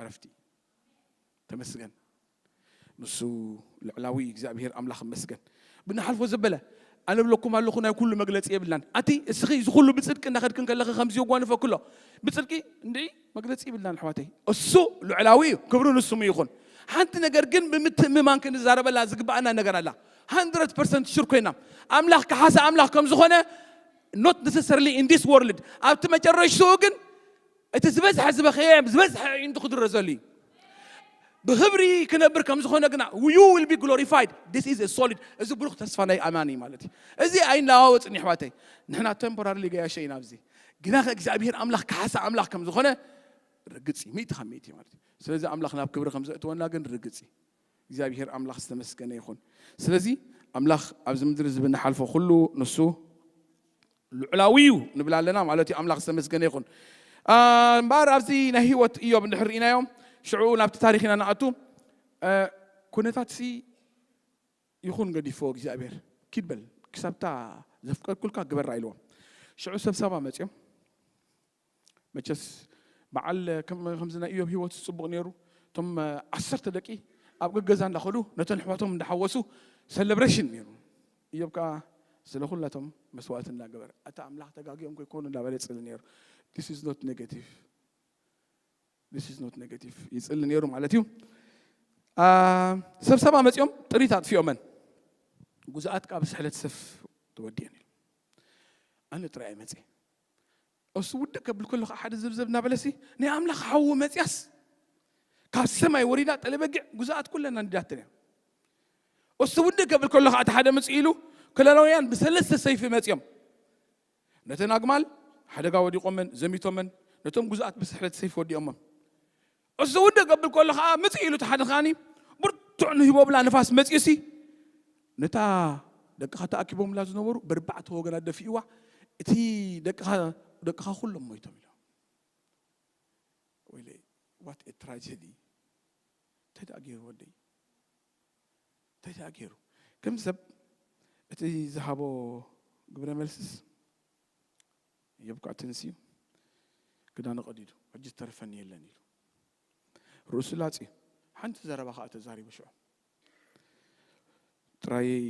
ዕረፍቲ። ተመስገን ንሱ ልዕላዊ እግዚኣብሄር ኣምላኽ ይመስገን ብንሓልፎ ዘበለ ኣነ ብለኩም ኣለኹ ናይ ኩሉ መግለጺ የብልናን ኣቲ እስኺ እዚ ኩሉ ብጽድቂ እንዳኸድክን ከለኺ ከምዚ የጓንፈ ክሎ ብጽድቂ እንድዒ መግለጺ ይብልናን ኣሕዋተይ እሱ ልዕላዊ እዩ ክብሩ ንስሙ ይኹን ሓንቲ ነገር ግን ብምትእምማን ክንዛረበላ ዝግባኣና ነገር ኣላ 100 ፐርሰንት ሽር ኮይና ኣምላኽ ከሓሰ ኣምላኽ ከም ዝኾነ ኖት ነሰሰርሊ ኢን ዲስ ወርልድ ኣብቲ መጨረሽትኡ ግን እቲ ዝበዝሐ ዝበኸየ ዝበዝሐ ኣዒንቱ ክድረዘሉ እዩ ብክብሪ ክነብር ከም ዝኾነ ግና ዩ ዊል ቢ ግሎሪፋይድ ዲስ ኢዝ ሶሊድ እዚ ብሩኽ ተስፋ ናይ ኣማኒ ማለት እዩ እዚ ኣይናዋወፅን ይሕዋተይ ንሕና ቴምፖራሪ ገያሸ ኢና ኣብዚ ግና ከ እግዚኣብሄር ኣምላኽ ካሓሳ ኣምላኽ ከም ዝኾነ ርግፅ እዩ ሚእቲ ካብ ሚእቲ ማለት እዩ ስለዚ ኣምላኽ ናብ ክብሪ ከም ዘእትወና ግን ርግፅ እዩ እግዚኣብሄር ኣምላኽ ዝተመስገነ ይኹን። ስለዚ ኣምላኽ ኣብዚ ምድሪ እዚ ብንሓልፎ ኩሉ ንሱ ልዑላዊ እዩ ንብል ኣለና ማለት እዩ። ኣምላኽ ዝተመስገነ ይኹን። እምበኣር ኣብዚ ናይ ህይወት እዮብ እንድሕር ርኢናዮ ሽዑ ናብቲ ታሪክ ኢና ንኣቱ ኩነታት ሲ ይኹን ገዲፎ እግዚኣብሔር ኪድ በል ክሳብታ ዘፍቀድኩልካ ግበራ ኢልዎም ሽዑ ሰብሳባ መፅኦም መቸስ በዓል ከምዚ ናይ እዮብ ህይወት ጽቡቕ ነይሩ እቶም ዓሰርተ ደቂ ኣብ ገገዛ እንዳኸዱ ነተን ኣሕዋቶም እንዳሓወሱ ሰለብሬሽን ነይሩ እዮብ ከዓ ስለ ኩላቶም መስዋእቲ እንዳገበረ ኣታ ኣምላኽ ተጋጊኦም ከይኮኑ እንዳበለ ይጽሊ ነይሩ ዲስ ኢዝ ኖት ኔጌቲቭ ዲስ ኢዝ ኖት ኔጌቲቭ ይጽሊ ነይሩ ማለት እዩ ሰብሰባ መጺኦም ጥሪት ኣጥፊኦመን ጉዙኣት ካብ ስሕለት ሰፍ ተወዲየን እዩ ኣነ ጥራይ መጺ እሱ ውድቅ ከብል ከሎ ከዓ ሓደ ዘብዘብ እናበለሲ ናይ ኣምላኽ ሓዊ መፅያስ ካብ ሰማይ ወሪዳ ጠለበጊዕ ጉዛኣት ኩለን ኣንዲዳተን እያ እሱ ውድቅ ከብል ከሎ ከዓ እቲ ሓደ ምፅእ ኢሉ ክለላውያን ብሰለስተ ሰይፊ መፅዮም ነተን ኣግማል ሓደጋ ወዲቆመን ዘሚቶመን ነቶም ጉዛኣት ብስሕለት ሰይፊ ወዲኦሞም እሱ ውድእ ገብል ከሎ ኸኣ ምጽእ ኢሉ ተሓደኻኒ ብርቱዕ ንሂቦብላ ንፋስ መጺኡሲ ነታ ደቅኻ ተኣኪቦምላ ዝነበሩ በርባዕተ ወገና ደፊእዋ እቲ ደቅኻ ደቅኻ ኩሎም ሞይቶም ኢሎም ወይለይ ዋት ኤ ትራጀዲ እንታይ ደኣ ገይሩ ወደይ እንታይ ደኣ ገይሩ ከም ሰብ እቲ ዝሃቦ ግብረ መልስስ የብቅዕ ተንሲኡ ክዳኑ ቀዲዱ ሕጂ ዝተርፈኒ የለን ኢሉ ርእሱ ላጽዩ ሓንቲ ዘረባ ከኣ ተዛሪቡ ሽዑ ጥራየይ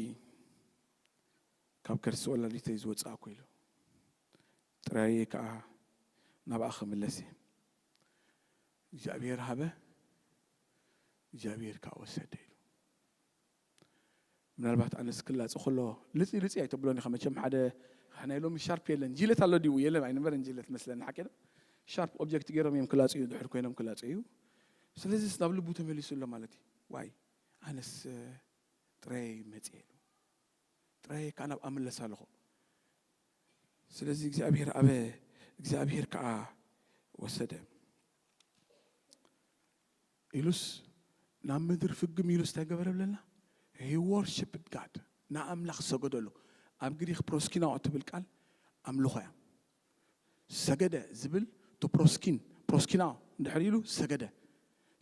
ካብ ከርሲ ወላዲተይ ዝወጻእኩ ኢሉ ጥራየይ ከኣ ናብኣ ክምለስ እየ እግዚኣብሔር ሃበ እግዚኣብሔር ከኣ ወሰደ ኢሉ ምናልባት ኣነስ ክላጽ ከሎ ልጺ ልጺ ኣይተብሎን ኢኻ መቸም ሓደ ናይ ሎሚ ሻርፕ የለን ጂለት ኣሎ ድዩ የለን ኣይነበረን ጂለት መስለኒ ሓቂ ዶ ሻርፕ ኦብጀክት ገይሮም እዮም ክላጹ እዩ ድሕር ኮይኖም ክላጹ እዩ ስለዚ ናብ ልቡ ተመሊሱ ኣሎ ማለት እዩ ዋይ ኣነስ ጥራየ መጽየ ኢሉ ጥራየ ከዓ ናብ ኣምለስ ኣለኹ ስለዚ እግዚኣብሔር ኣበ እግዚኣብሔር ከዓ ወሰደ ኢሉስ ናብ ምድሪ ፍግም ኢሉ ስታይ ገበረ ብለልና he worshipped God ንኣምላኽ ሰገደሉ ኣብ ግሪኽ ፕሮስኪናኦ እትብል ቃል ኣምልኾ እያ ሰገደ ዝብል to proskin ፕሮስኪናኦ እንድሕር ኢሉ ሰገደ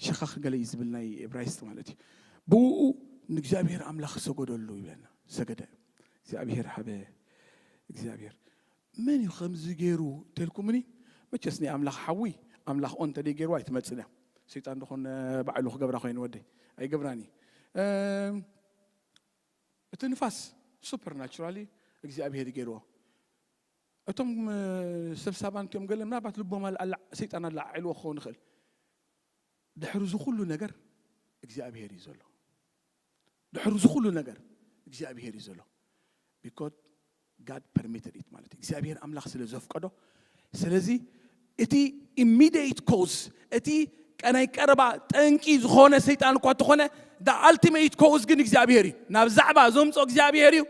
ሸኻኽ ገለ እዩ ዝብል ናይ እብራይስጥ ማለት እዩ ብኡ ንእግዚኣብሔር ኣምላኽ ሰገደሉ ይብለና ሰገደ እግዚኣብሔር ሃበ እግዚኣብሔር መን እዩ ከምዚ ገይሩ ተልኩምኒ መቸስ ናይ ኣምላኽ ሓዊ ኣምላኽ ኦን ተደይ ገይርዋ ኣይትመጽን እያ ሰይጣን ደኾን ባዕሉ ክገብራ ኮይኑ ወደይ ኣይገብራን እዩ እቲ ንፋስ ሱፐር ናቹራሊ እግዚኣብሄር እዩ ገይርዎ እቶም ሰብ ሳባን እትዮም ገለ ምናልባት ልቦም ሰይጣን ኣለዓዒልዎ ክኸውን ይኽእል ድሕሪ እዚ ኩሉ ነገር እግዚኣብሄር እዩ ዘሎ ድሕሪ እዚ ኩሉ ነገር እግዚኣብሄር እዩ ዘሎ because God permitted it ማለት እዩ እግዚኣብሄር ኣምላኽ ስለ ዘፍቀዶ ስለዚ እቲ ኢሚዲየት ኮዝ እቲ ቀናይ ቀረባ ጠንቂ ዝኾነ ሰይጣን እኳ እንተኾነ ዳ ኣልቲሜት ኮዝ ግን እግዚኣብሄር እዩ ናብ ዛዕባ ዘምፆ እግዚኣብሄር እዩ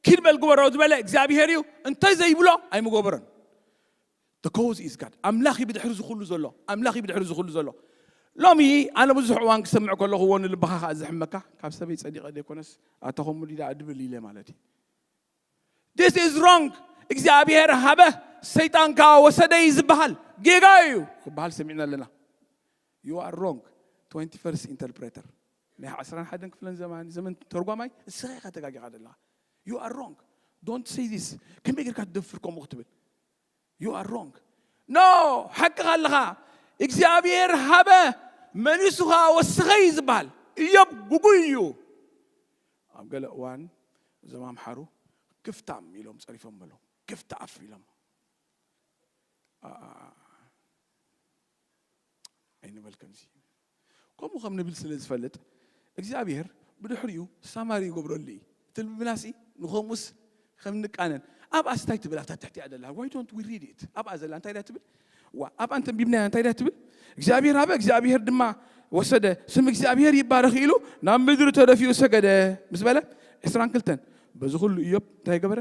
ኪድ በል ግበሮ ዝበለ እግዚኣብሄር እዩ እንተዘይብሎ ኣይምገበሮን The cause is God. ኣምላኽ እዩ ብድሕሪ እዚ ኩሉ ዘሎ ኣምላኽ እዩ ብድሕሪ እዚ ኩሉ ዘሎ ሎሚ ኣነ ብዙሕ እዋን ክሰምዕ ከለኹ እዎ ንልብኻ ከዓ ዝሕመካ ካብ ሰበይ ጸዲቐ ዘይኮነስ ኣታ ከምኡ ዲዳ እድብል ኢለ ማለት እዩ ዲስ ኢዝ ሮንግ እግዚኣብሔር ሃበ ሰይጣን ከዓ ወሰደ እዩ ዝበሃል ጌጋ እዩ ክበሃል ሰሚዕና ኣለና ዩ ኣር ሮንግ 21 ኢንተርፕሬተር ናይ 11 ክፍለን ዘመን ዘመን ተርጓማይ እስኻ ኢኻ ተጋጊኻ ዘለኻ ዩ ኣር ሮንግ ዶንት ሰይ ዚስ ከመይ ጌርካ ትደፍር ከምኡ ክትብል ዩ ኣር ሮንግ ኖ ሓቅኻ ኣለኻ እግዚኣብሄር ሃበ መሊሱ ኸዓ ወሰኸ እዩ ዝበሃል እዮብ ጉጉይ እዩ ኣብ ገለ እዋን እዞም ኣምሓሩ ክፍታም ኢሎም ፀሪፎም በሎ ክፍቲ ኣፍ ኢሎም ኣይንበል ከምዚ ከምኡ ከም ንብል ስለ ዝፈልጥ እግዚኣብሄር ብድሕሪኡ ሳማሪ ይገብረሉ እዩ ትልብናሲ ንኸምኡስ ከም ንቃነን ኣብኣ ስታይ ትብል ኣብታ ትሕቲያ ደላ ዋይ ዶንት ዊ ሪድ ኢት ኣብኣ ዘላ እንታይ ዳ ትብል ዋ ኣብኣ እንተንቢብናያ እንታይ ዳ ትብል እግዚኣብሄር ሃበ እግዚኣብሄር ድማ ወሰደ ስም እግዚኣብሄር ይባረኽ ኢሉ ናብ ምድሪ ተደፊኡ ሰገደ ምስ በለ ዕስራን ክልተን በዚ ኩሉ እዮብ እንታይ ገበረ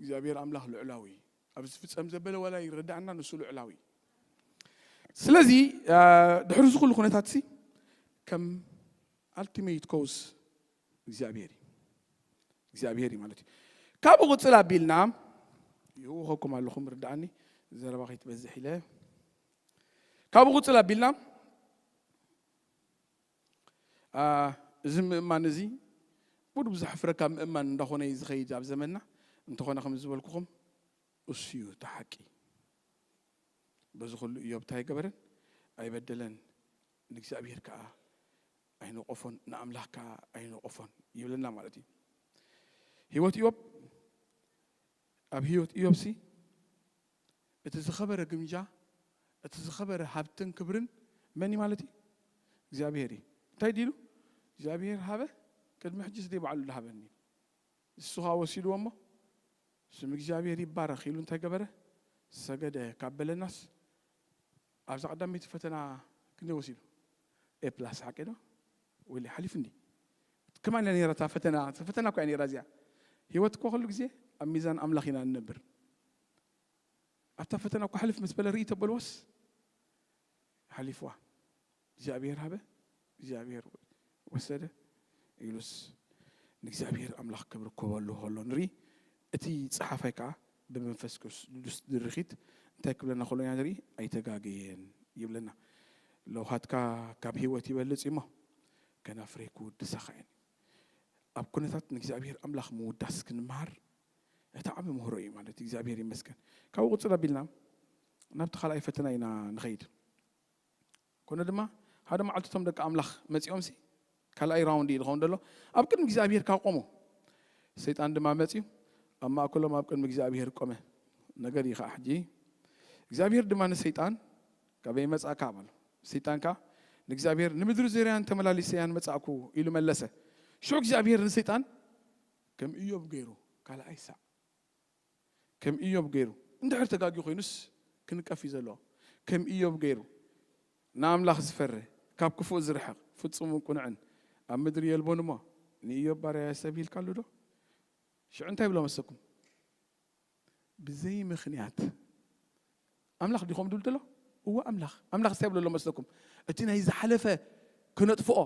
እግዚኣብሔር ኣምላኽ ልዑላዊ እዩ ኣብ ዝፍጸም ዘበለ ዋላ ይረዳእና ንሱ ልዑላዊ እዩ ስለዚ ድሕሪ እዚ ኩሉ ኩነታት ሲ ከም ኣልቲሜት ኮዝ እግዚኣብሔር እዩ እግዚኣብሔር እዩ ማለት እዩ ካብኡ ቅፅል ኣቢልና ይውኸኩም ኣለኹ ምርዳእኒ ዘረባ ከይትበዝሕ ኢለ ካብኡ ቅፅል ኣቢልና ኣኣ እዚ ምእማን እዚ ቡድቡ ዘሕፍረካ ምእማን እንዳኾነ እዩ ዝኸይድ ኣብ ዘመንና እንተኾነ ከም ዝበልኩኹም እሱ እዩ እቲ ሓቂ በዚ ኩሉ እዮብ እንታይ ኣይገበረን ኣይበደለን ንእግዚኣብሔር ከዓ ኣይነቆፎን ንኣምላኽ ከዓ ኣይነቆፎን ይብለና ማለት እዩ ህይወት እዮብ ኣብ ህይወት እዮብሲ እቲ ዝኸበረ ግምጃ፣ እቲ ዝኸበረ ሃብትን ክብርን መን እዩ ማለት እዩ? እግዚኣብሄር እዩ። እንታይ ድዩ ኢሉ? እግዚኣብሄር ሃበ፣ ቅድሚ ሕጂስ ደይ ባዕሉ ድሃበኒ ኢሉ። ንሱ ኸኣ ወሲድዎ እሞ ስም እግዚኣብሄር ይባረኽ ኢሉ እንታይ ገበረ? ሰገደ ካብ በለናስ ኣብዛ ቀዳመይቲ ፈተና ክንደይ ወሲዱ? ኤ ፕላስ ሓቂዶ? ወይለይ ሓሊፉ እንዲ ከማን እያ ነይራ እታ ፈተና ፈተና እኳ እያ ነይራ እዚኣ ህይወት እኳ ኩሉ ግዜ ኣብ ሚዛን ኣምላኽ ኢና ንነብር ኣብታ ፈተና እኳ ሕልፍ ምስ በለ ርኢ ተበልዎስ ሓሊፍዋ እግዚኣብሔር ሃበ እግዚኣብሔር ወሰደ ኢሉስ ንእግዚኣብሔር ኣምላኽ ክብሪ ኮበሉ ከሎ ንርኢ እቲ ጸሓፋይ ከኣ ብመንፈስ ቅዱስ ድርኺት እንታይ ክብለና ከሎ ኢና ንርኢ? ኣይተጋገየን ይብለና። ለውሃትካ ካብ ህይወት ይበልጽ እዩሞ ከናፍረይ ክውድሳኻ እየን እዩ። ኣብ ኩነታት ንእግዚኣብሄር ኣምላኽ ምውዳስ ክንመሃር እቲ ዓቢ ምህሮ እዩ ማለት እዩ። እግዚኣብሄር ይመስገን። ካብኡ ቅጽል ኣቢልና ናብቲ ካልኣይ ፈተና ኢና ንኸይድ። ኮነ ድማ ሓደ መዓልቲ እቶም ደቂ ኣምላኽ መጺኦምሲ ካልኣይ ራውንድ እዩ ዝኸውን ዘሎ ኣብ ቅድሚ እግዚኣብሄር ካብ ቆሙ ሰይጣን ድማ መጺኡ ኣብ ማእከሎም ኣብ ቅድሚ እግዚኣብሄር ቆመ ነገር እዩ ከዓ ሕጂ እግዚኣብሄር ድማ ንሰይጣን ካበይ መጻእካ በሎ ሰይጣን ከዓ ንእግዚኣብሄር ንምድሪ ዙርያን ተመላሊሰያን መጻእኩ ኢሉ መለሰ ሽዑ እግዚኣብሄር ንሰይጣን ከም እዮብ ገይሩ ካልኣይ ሳዕ ከም እዮብ ገይሩ እንድሕር ተጋግዩ ኮይኑስ ክንቀፍ እዩ ዘለዎ ከም እዮብ ገይሩ ንኣምላኽ ዝፈሪ ካብ ክፉእ ዝርሕቅ ፍጹምን ቁኑዕን ኣብ ምድሪ የልቦን እሞ ንእዮብ ባርያ የሰብ ሂልካሉ ዶ ሽዑ እንታይ ይብሎ መሰኩም ብዘይ ምክንያት ኣምላኽ ዲዩ ከምኡ ድብል ደሎ እወ ኣምላኽ ኣምላኽ እንታይ ይብሎ ኣሎ መስለኩም እቲ ናይ ዝሓለፈ ክነጥፍኦ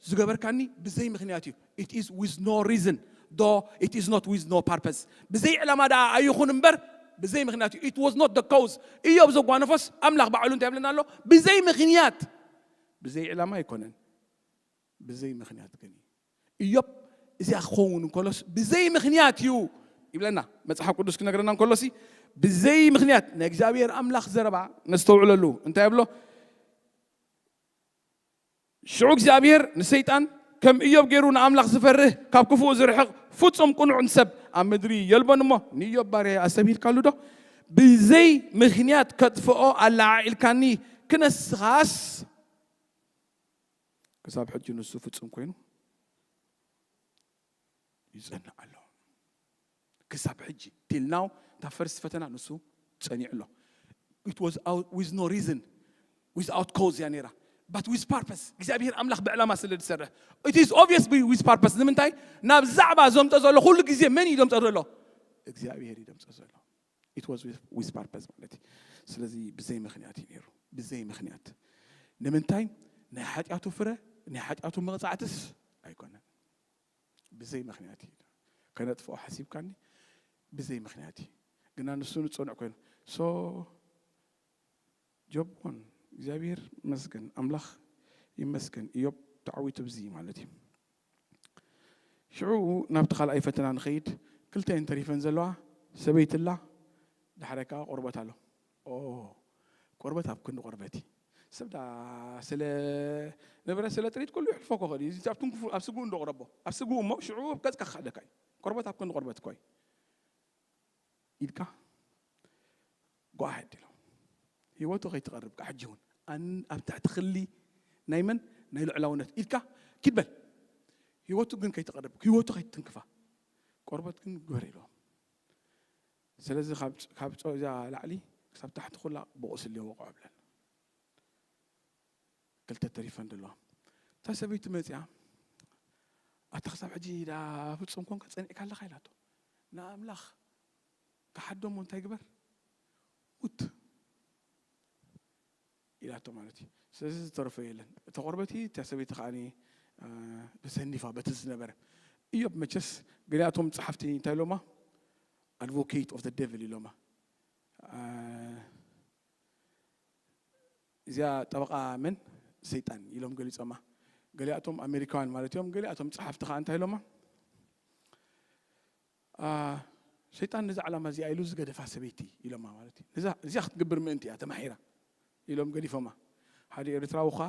ዝገበርካኒ ብዘይ ምክንያት እዩ it is with no reason ዶ it is not with no purpose ብዘይ ዕላማ ደኣ ኣይኹን እምበር ብዘይ ምክንያት እዩ it was not the cause እዮብ ዘጓነፎስ ኣምላኽ ባዕሉ እንታይ ይብለና ኣሎ ብዘይ ምክንያት ብዘይ ዕላማ ኣይኮነን ብዘይ ምኽንያት ግን እዩ። እዮብ እዚኣ ክኸውን እንከሎስ ብዘይ ምኽንያት እዩ ይብለና መጽሓፍ ቅዱስ ክነግረና እንከሎሲ ብዘይ ምኽንያት ናይ እግዚኣብሔር ኣምላኽ ዘረባ ነስተውዕለሉ እንታይ ኣብሎ ሽዑ እግዚኣብሔር ንሰይጣን ከም እዮብ ገይሩ ንኣምላኽ ዝፈርህ ካብ ክፉኡ ዝርሕቕ ፍጹም ቅኑዕ ንሰብ ኣብ ምድሪ የልቦን እሞ ንእዮብ ባርያ ኣሰብሂልካሉ ዶ ብዘይ ምኽንያት ከጥፍኦ ኣለዓዒልካኒ ክነስኻስ ክሳብ ሕጂ ንሱ ፍጹም ኮይኑ ይጸንዕ ኣሎ። ክሳብ ሕጂ ቲል ናው እታ ፈርስት ፈተና ንሱ ጸኒዑ ኣሎ። ኢት ዋዝ ዊዝ ኖ ሪዝን ዊዝኣውት ኮዝ እያ ነይራ ባት ዊዝ ፓርፐስ እግዚኣብሄር ኣምላኽ ብዕላማ ስለ ዝሰርሕ ኢት ኢዝ ኦብቪየስ ዊዝ ፓርፐስ ንምንታይ ናብ ዛዕባ ዘምፆ ዘሎ ኩሉ ግዜ መን እዩ ዘምፆ ዘሎ እግዚኣብሄር እዩ ዘምፆ ዘሎ ኢት ዋዝ ዊዝ ፓርፐዝ ማለት እዩ። ስለዚ ብዘይ ምኽንያት እዩ ነይሩ፣ ብዘይ ምኽንያት። ንምንታይ? ናይ ሓጢኣቱ ፍረ፣ ናይ ሓጢኣቱ መቕጻዕትስ ኣይኮነን። ብዘይ ምኽንያት እዩ። ከነጥፍኦ ሓሲብካኒ ብዘይ ምኽንያት እዩ። ግና ንሱ ንጽኑዕ ኮይኑ ሶ ጆብ ን እግዚኣብሔር መስገን ኣምላኽ ይመስገን እዮብ ተዓዊቱ ብዚ ማለት እዩ። ሽዑ ናብቲ ካልኣይ ፈተና ንኸይድ ክልተ እየን ተሪፈን ዘለዋ ሰበይቲ ኣላ ዳሕራይ ከዓ ቆርበት ኣሎ ኦ ቆርበት ኣብ ክንዲ ቆርበት እዩ ሰብ ዳ ስለ ንብረት ስለ ጥሪት ኩሉ ይሕልፎ ክኽእል እዩ እዚ ኣብ ትንክፉ ኣብ ስግኡ እንዶ ቅረቦ ኣብ ስግኡ እሞ ሽዑ ኣብ ገጽካ ክኸደካ እዩ ቆርበት ኣብ ክንዲ ቆርበት እኮ እዩ ኢልካ go ahead ኢሎም ህይወቱ ከይትቐርብ ከ ሕጂ እውን ኣን- ኣብ ትሕቲ ክሊ ናይ መን ናይ ልዑላውነት ኢልካ ኪድ በል ህይወቱ ግን ከይትቐርብ ህይወቱ ከይትትንክፋ ቆርበት ግን ግበር ኢሎም ስለዚ ካብ ጭ- ካብ ጨው እዛ ላዕሊ ክሳብ ታሕቲ ኩላ ብቑስሊ ወቕዖ ብለን ክልተ ተሪፈን ደለዋ እታ ሰበይቱ መጺኣ ኣታ ክሳብ ሕጂ ደኣ ኣብ ጾም ኮንካ ጸኒዕካ ኣለኻ ኢላቶ ንኣምላኽ ክሓዶ እሞ እንታይ ግበር ሙት ኢላቶ ማለት እዩ ስለዚ ዝተረፈ የለን እታ ቆርበቲ እታ ሰበይቲ ከዓ ተሰኒፋ በቲ ዝነበረ እዮብ መቸስ ገሊኣቶም ፀሓፍቲ እንታይ ኢሎማ ኣድቮኬት ኦፍ ዴቭል ኢሎማ እዚኣ ጠበቓ መን? ሰይጣን ኢሎም ገሊጾማ። ገሊኣቶም ኣሜሪካውያን ማለት እዮም፣ ገሊኣቶም ጸሓፍቲ ከኣ እንታይ ኢሎማ? ሰይጣን ነዛ ዕላማ እዚኣ ኢሉ ዝገደፋ ሰበይቲ ኢሎማ ማለት እዩ። ነዛ እዚኣ ክትግብር ምእንቲ እያ ተማሒራ ኢሎም ገዲፎማ። ሓደ ኤርትራዊ ከኣ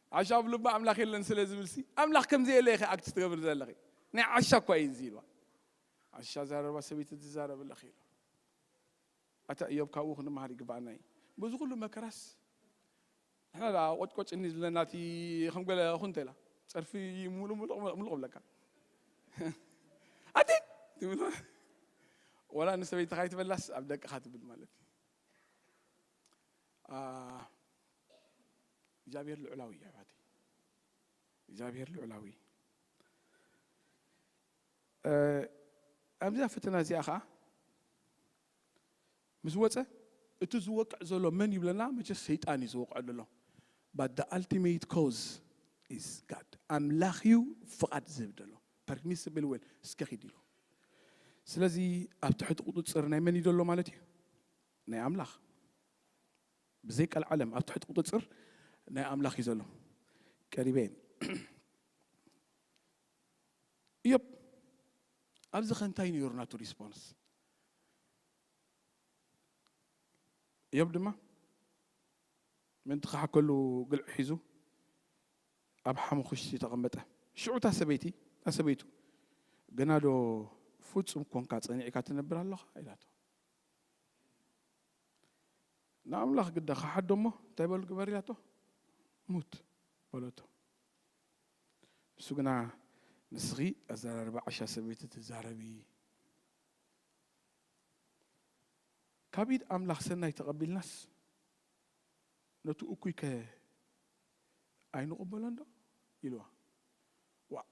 ዓሻ ኣብ ልባ ኣምላኽ የለን ስለ ዝብልሲ ኣምላኽ ከም ዘየለ ኢኺ ኣክት ትገብሪ ዘለኺ ናይ ዓሻ እኳ እዩ እዚ ኢልዋ ዓሻ ዛረባ ሰበይቲ ትዛረብ ኣለኺ ኢልዋ ኣታ እዮብ ካብኡ ክንመሃር ይግባኣና እዩ በዚ ኩሉ መከራስ ንሕና ደኣ ቆጭቆጭ እኒ ዝብለና እቲ ከም ገለ እኹ እንተ ኢላ ጸርፊ ሙሉእ ሙሉቕ ሙሉቕ ብለካ ኣቲ ትብል ወላ ንሰበይትኻ ይትበላስ ኣብ ደቅኻ ትብል ማለት እዩ እግዚኣብሔር ልዑላዊ እዩ ኣሕዋተይ እግዚኣብሔር ልዑላዊ እዩ ኣብዛ ፈተና እዚኣ ከዓ ምስ ወፀ እቲ ዝወቅዕ ዘሎ መን እዩ ብለና መቸስ ሰይጣን እዩ ዝወቅዐሉ ኣሎ ባት the ultimate cause is God ኣምላኽ እዩ ፍቓድ ዝህብ ዘሎ ፐርሚስብል ዌል እስከ ኺድ ኢሉ ስለዚ ኣብ ትሕቲ ቁፅፅር ናይ መን እዩ ዘሎ ማለት እዩ ናይ ኣምላኽ ብዘይ ቀልዓለም ኣብ ትሕቲ ቁጽጽር ናይ ኣምላኽ እዩ ዘሎ። ቀሪበ እየ። እዮብ ኣብዚ ከ እንታይ ነይሩ ናቱ ሪስፖንስ? እዮብ ድማ ምእንቲ ክሓከሉ ግልዒ ሒዙ ኣብ ሓሙኹሽቲ ተቐመጠ። ሽዑ እታ ሰበይቲ እታ ሰበይቱ ገና ዶ ፍጹም ኰንካ ጸኒዕካ ትነብር ኣሎኻ? ኢላቶ። ንኣምላኽ ግዳ ከሓዶ እሞ እንታይ በሉ ግበር ኢላቶ ሙት በለቶ ንሱ ግና ንስኺ ኣዘራርባ ዓሻ ሰበይቲ ትዛረቢ ካብ ኢድ ኣምላኽ ሰናይ ተቐቢልናስ ነቲ እኩይ ከ ኣይንቕበሎን ዶ ኢልዋ ዋእ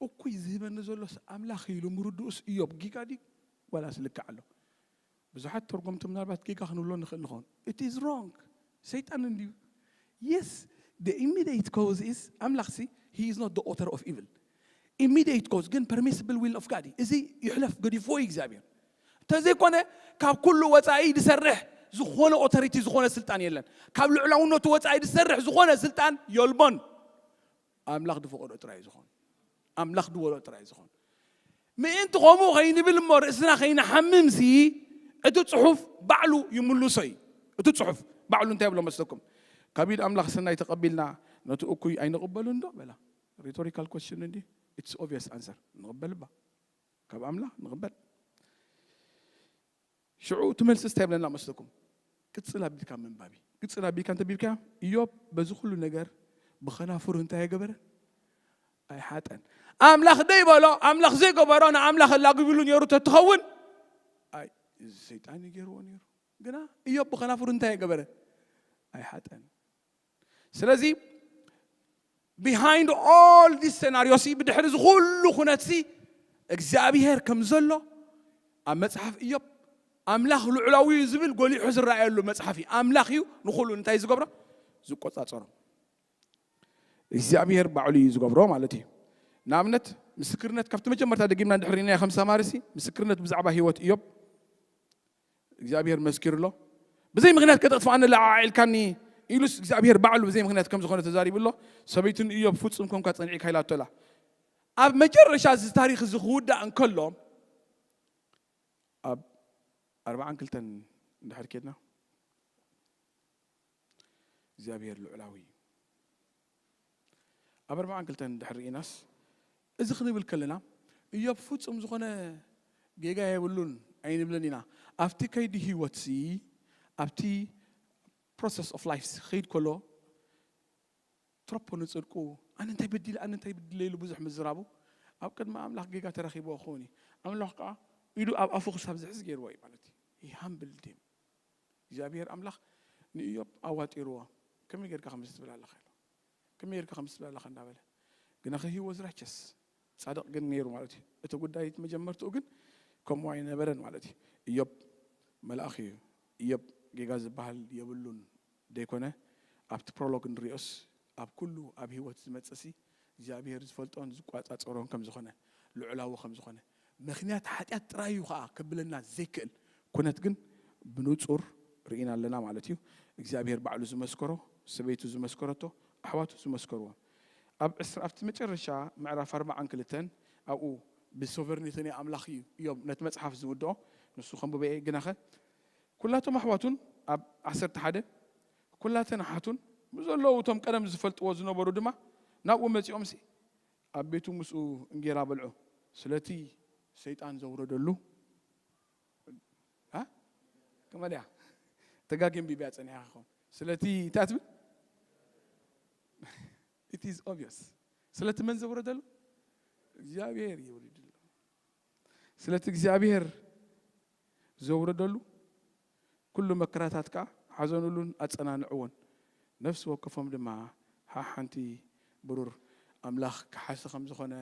እኩይ ዝህበኒ ዘሎስ ኣምላኽ እዩ ኢሉ ምርድኡስ እዮብ ጊጋ ድዩ ዋላስ ልክዕ ኣሎ? ብዙሓት ተርጎምቲ ምናልባት ጌጋ ክንብሎ ንኽእል ንኸውን it is wrong ሰይጣን እንድዩ yes the immediate cause is ኣምላኽሲ he is not the author of evil immediate cause ግን permissible will of God እዩ እዚ ይሕለፍ ገዲፍዎ እዩ እግዚኣብሔር እንተዘይኮነ ካብ ኩሉ ወጻኢ ዝሰርሕ ዝኾነ ኦቶሪቲ ዝኾነ ስልጣን የለን ካብ ልዑላውነቱ ወጻኢ ዝሰርሕ ዝኾነ ስልጣን የልቦን ኣምላኽ ዝፈቐዶ ጥራይ እዩ ዝኾን። ኣምላኽ ዝበሎ ጥራይ እዩ ዝኾን። ምእንቲ ከምኡ ከይንብል እሞ ርእስና ከይንሓምምሲ እቲ ጽሑፍ ባዕሉ ይምልሶ እዩ። እቲ ጽሑፍ ባዕሉ እንታይ ብሎ መስለኩም? ካብ ኢድ ኣምላኽ ሰናይ ተቐቢልና ነቲ እኩይ ኣይንቕበሉን ዶ በላ። ሪቶሪካል ኮስችን እንዲ ኢትስ ኦብቪየስ ኣንሰር ንቕበል እባ ካብ ኣምላኽ ንቕበል። ሽዑ እቲ መልስስ እንታይ ይብለና መስለኩም? ቅጽል ኣቢልካ ምንባብ እዩ። ቅጽል ኣቢልካ እንተቢብካዮ እዮብ በዚ ኩሉ ነገር ብኸናፍሩ እንታይ ኣይገበረን? ኣይሓጠን። ኣምላኽ ዘይበሎ ኣምላኽ ዘይገበሮ ንኣምላኽ ኣላጊብሉ ነይሩ ተትኸውን ኣይ እዚ ሰይጣን እዩ ገይርዎ ነይሩ። ግና እዮብ ብኸናፍሩ እንታይ ኣይገበረን? ኣይሓጠን። ስለዚ ቢሃይንድ ኦል ዲስ ሴናሪዮ ሲ ብድሕሪ እዚ ኩሉ ኩነት ሲ እግዚኣብሄር ከም ዘሎ ኣብ መጽሓፍ እዮብ ኣምላኽ ልዑላዊ እዩ ዝብል ጎሊሑ ዝረኣየሉ መጽሓፍ እዩ ኣምላኽ እዩ ንኩሉ እንታይ ዝገብሮ ዝቆጻጸሮ እግዚኣብሄር ባዕሉ እዩ ዝገብሮ ማለት እዩ ንኣብነት ምስክርነት ካብቲ መጀመርታ ደጊምና ድሕሪና ከም ሰማርሲ ምስክርነት ብዛዕባ ህይወት እዮብ እግዚኣብሄር መስኪሩ ኣሎ። ብዘይ ምኽንያት ከተጥፍኣኒ ኣለዓዒልካኒ ኢሉስ እግዚኣብሄር ባዕሉ ብዘይ ምኽንያት ከም ዝኾነ ተዛሪቡ ኣሎ። ሰበይቱ ንእዮብ ፍጹም ኮንካ ጸኒዒካ ኢላቶ ኣላ። ኣብ መጨረሻ እዚ ታሪኽ እዚ ክውዳእ እንከሎ ኣብ ኣርባዓን ክልተን እንድሕር ኬድና እግዚኣብሄር ልዑላዊ እዩ። ኣብ ኣርብዓን ክልተን ድሕሪ ርኢናስ እዚ ክንብል ከለና እዮብ ፍጹም ዝኾነ ጌጋ የብሉን ኣይንብልን ኢና። ኣብቲ ከይዲ ህይወትሲ ኣብቲ ፕሮሰስ ኦፍ ላይፍ ክኸይድ ከሎ ትረፖ ንጽድቁ ኣነ እንታይ በዲለ ኣነ እንታይ በዲለ ኢሉ ብዙሕ ምዝራቡ ኣብ ቅድሚ ኣምላኽ ጌጋ ተረኺብዎ ክኸውን እዩ። ኣምላኽ ከዓ ኢዱ ኣብ ኣፉ ክሳብ ዝሕዝ ገይርዎ እዩ ማለት እዩ። ሃምብል ዲም እግዚኣብሄር ኣምላኽ ንእዮብ ኣዋጢርዎ ከመይ ጌርካ ከምዚ ትብል ኣለኻ ኢሉ ከመይ ጌርካ ከምዚ ትብል ኣለኻ እንዳበለ ግናኸ ሂ ወዝ ራይቸስ ጻድቕ ግን ነይሩ ማለት እዩ እቲ ጉዳይ እቲ መጀመርትኡ ግን ከምኡ ኣይነበረን ማለት እዩ እዮብ መልኣኽ እዩ እዮብ ጌጋ ዝበሃል የብሉን ዘይኮነ ኣብቲ ፕሮሎግ ንሪኦስ ኣብ ኩሉ ኣብ ህይወት ዝመጽእሲ እግዚኣብሄር ዝፈልጦን ዝቋጻጸሮን ከም ዝኾነ፣ ልዑላዊ ከም ዝኾነ፣ ምኽንያት ሓጢኣት ጥራይ እዩ ኸኣ ከብለና ዘይክእል ኩነት ግን ብንጹር ርኢና ኣለና ማለት እዩ። እግዚኣብሄር ባዕሉ ዝመስከሮ፣ ሰበይቱ ዝመስከረቶ፣ ኣሕዋቱ ዝመስከርዎ። ኣብ ዕስራ ኣብቲ መጨረሻ ምዕራፍ ኣርብዓን ክልተን ኣብኡ። ብሶቨርኒቲ ናይ ኣምላኽ እዩ እዮም ነቲ መጽሓፍ ዝውድኦ፣ ንሱ ከንብቦ እየ ግናኸ ኩላቶም ኣሕዋቱን ኣብ ዓሰርተ ሓደ ኵላተን ኣሓቱን ምስ ዘለዉ እቶም ቀደም ዚፈልጥዎ ዝነበሩ ድማ ናብኡ መጺኦምሲ፣ ኣብ ቤቱ ምስኡ እንጌራ በልዑ። ስለቲ ሰይጣን ዘውረደሉ a ከመይ ደኣ ተጋጊ ኣንቢበያ ጸኒሓ ክኸውን ስለቲ እንታይ ትብል it is obvious ስለቲ መን ዘውረደሉ እግዚኣብሔር የውሪድሉ ስለቲ እግዚኣብሔር ዘውረደሉ ኩሉ መከራታት ከኣ ሓዘኑሉን ኣጸናንዕዎን። ነፍሲ ወከፎም ድማ ሓሓንቲ ብሩር ኣምላኽ ክሓሲ ከም ዝኾነ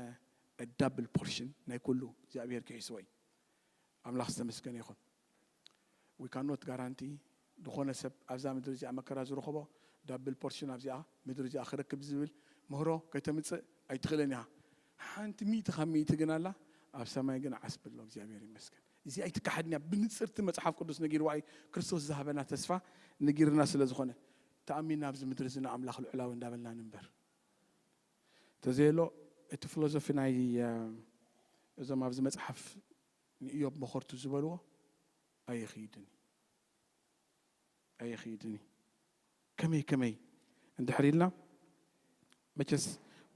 a double portion ናይ ኩሉ እግዚኣብሄር ክሒስዎ እዩ። ኣምላኽ ዝተመስገነ ይኹን። We can not guarantee ዝኾነ ሰብ ኣብዛ ምድሪ እዚኣ መከራ ዝረኸቦ double portion ኣብዚኣ ምድሪ እዚኣ ክረክብ ዝብል ምህሮ ከተምጽእ ኣይትኽእልን ኢኻ። ሓንቲ ሚእቲ ካብ ሚእቲ ግን ኣላ ኣብ ሰማይ ግን ዓስቢ ኣሎ እግዚኣብሄር ይመስገን። እዚ ኣይትካሓድን እያ ብንጽር እቲ መጽሓፍ ቅዱስ ነጊርዋ እዩ ክርስቶስ ዝሃበና ተስፋ ንጊርና ስለ ዝኾነ ተኣሚና ኣብዚ ምድሪ እዚ ንኣምላኽ ልዑላዊ እንዳበልና ንንበር ተዘየሎ እቲ ፍሎዞፊ ናይ እዞም ኣብዚ መጽሓፍ ንእዮብ መኾርቱ ዝበልዎ ኣይኺድን እዩ ኣይኺድን እዩ ከመይ ከመይ እንድሕር ኢልና መቸስ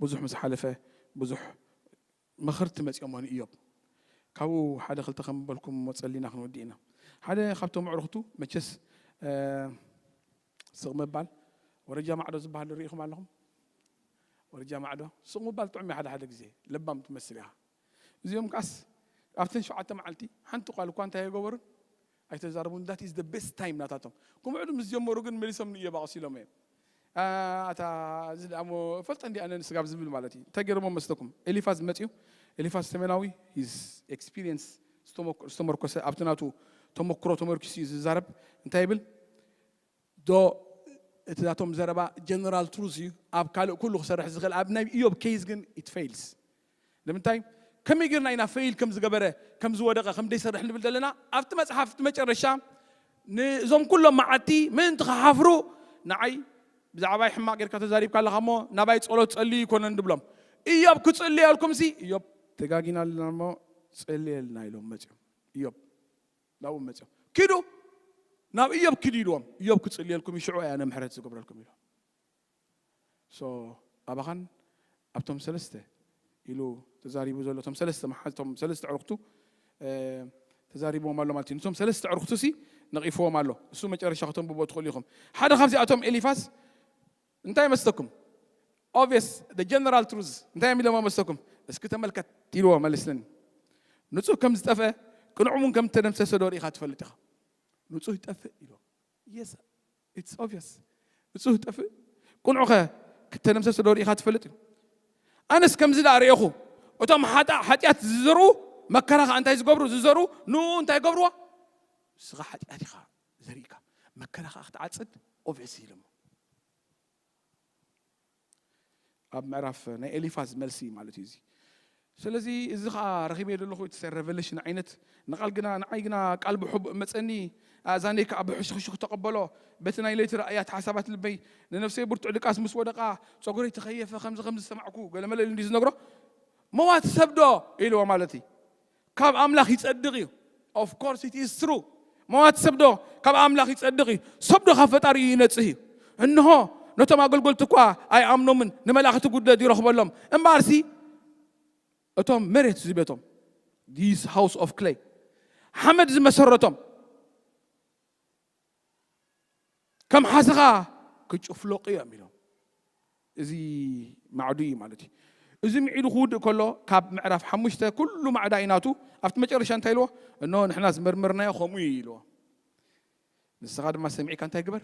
ብዙሕ ምስ ሓለፈ ብዙሕ መኸርቲ መጺኦሞ ንእዮብ ካብኡ ሓደ ክልተ ከም ምበልኩም እሞ ጸሊና ክንውዲ ኢና ሓደ ካብቶም ኣዕሩኽቱ መቸስ ስቕ ምባል ወረጃ ማዕዶ ዝባሃል ዶ ሪኢኹም ኣለኹም ወረጃ ማዕዶ ስቕ ምባል ጥዑም እዩ ሓደ ሓደ ግዜ ለባም ትመስል ኢኻ እዚኦም ከኣስ ኣብተን ሸውዓተ መዓልቲ ሓንቲ ቃል እኳ እንታይ ኣይገበሩን ኣይተዛረቡን that is the best time ናታቶም ክምዕዱ ምስ ጀመሩ ግን መሊሶም ንእዮብ ኣቕሲሎም እዬም ኣታ እዚ ድኣ እሞ እፈልጠ እንድየ ኣነ ንስጋብ ዝብል ማለት እዩ እንታይ ገይሮሞ መስለኩም ኤሊፋዝ መጽዩ ኤሊፋዝ ተሜናዊ his experience ዝተመርኮሰ ኣብቲ ናቱ ተመክሮ ተመርኪሱ እዩ ዝዛረብ እንታይ ይብል ዶ እቲ ናቶም ዘረባ ጀነራል ትሩዝ እዩ ኣብ ካልእ ኩሉ ክሰርሕ ዝኽእል ኣብ ናይ እዮብ ኬዝ ግን ኢት ፈይልስ ንምንታይ ከመይ ጌርና ኢና ፈይል ከም ዝገበረ ከም ዝወደቐ ከም ዘይሰርሕ ንብል ዘለና ኣብቲ መጽሓፍ እቲ መጨረሻ ንእዞም ኩሎም መዓልቲ ምእንቲ ክሓፍሩ ንዓይ ብዛዕባይ ሕማቕ ጌርካ ተዛሪብካ ኣለኻ እሞ ናባይ ጸሎት ጸልዩ ኣይኮነን ድብሎም እዮብ ክጽልየልኩምሲ እዮብ ተጋጊና ኣለና እሞ ጸልየልና ኢሎም መጽዮም እዮብ ናብኦም መጺኦም ኪዱ ናብ እዮብ ኪዱ ኢልዎም እዮብ ክጽልየልኩም እዩ ሽዑ ኣነ ምሕረት ዝገብረልኩም ኢሎም ሶ ኣባኻን ኣብቶም ሰለስተ ኢሉ ተዛሪቡ ዘሎ እቶም ሰለስተ መሓዝቶም ሰለስተ ዕርክቱ ተዛሪብዎም ኣሎ ማለት እዩ ንቶም ሰለስተ ዕርክቱ ሲ ነቒፍዎም ኣሎ እሱ መጨረሻ ከተንብቦ ትኽእሉ ኢኹም ሓደ ካብዚኣቶም ኤሊፋስ እንታይ መስለኩም obvious the general truth እንታይ እዮም ኢሎሞ መስለኩም እስኪ ተመልከት ኢልዎ መልስለኒ ንጹህ ከም ዝጠፍአ ቅኑዕ እውን ከም እተደምሰሰ ዶ ርኢኻ ትፈልጥ ኢኻ ንጹህ ይጠፍእ ኢልዎ yes it's obvious ንጹህ ይጠፍእ ቅኑዕ ከ ክተደምሰሰ ዶ ርኢኻ ትፈልጥ እዩ ኣነስ ከምዚ ደኣ ርኤኹ እቶም ሓጣእ ሓጢኣት ዝዘርኡ መከራ ከዓ እንታይ ዝገብሩ ዝዘርኡ ንኡ እንታይ ገብርዎ ንስኻ ሓጢኣት ኢኻ ዘሪእካ መከራ ከኣ ክትዓጽድ ኦቭስ ይብል እሞ ኣብ ምዕራፍ ናይ ኤሊፋዝ መልሲ እዩ ማለት እዩ እዚ ስለዚ እዚ ከዓ ረኺበዮ ዘለኹ እቲ ሬቨሌሽን ዓይነት ንቓል ግና ንዓይ ግና ቃል ብሕቡእ መፀኒ ኣእዛነይ ከዓ ብሕሽኽሽኽ ተቐበሎ በቲ ናይ ለይቲ ራእያት ሓሳባት ልበይ ንነፍሰይ ብርቱዕ ድቃስ ምስ ወደቓ ፀጉረይ ተኸየፈ ከምዚ ከምዚ ዝሰማዕኩ ገለመለ ኢሉ እንዲ ዝነግሮ መዋቲ ሰብዶ ኢልዎ ማለት እዩ ካብ ኣምላኽ ይጸድቕ እዩ። ኦፍ ኮርስ ኢት ኢዝ ትሩ መዋቲ ሰብዶ ካብ ኣምላኽ ይጸድቕ እዩ፣ ሰብዶ ካብ ፈጣሪ እዩ ይነጽህ እዩ። እንሆ ነቶም ኣገልገልቲ እኳ ኣይኣምኖምን፣ ንመላእኽቲ ጉድለት ይረኽበሎም። እምበኣርሲ እቶም መሬት እዚ ቤቶም ዲስ ሃውስ ኦፍ ክለይ ሓመድ ዝመሰረቶም ከም ሓሰኻ ክጭፍለቑ እዮም ኢሎም እዚ ማዕዱ እዩ ማለት እዩ እዚ ምዒዱ ክውድእ ከሎ ካብ ምዕራፍ ሓሙሽተ ኩሉ ማዕዳ እዩ ናቱ ኣብቲ መጨረሻ እንታይ ኢልዎ እኖ ንሕና ዝመርመርናዮ ከምኡ እዩ ኢልዎ ንስኻ ድማ ሰሚዕካ እንታይ ግበር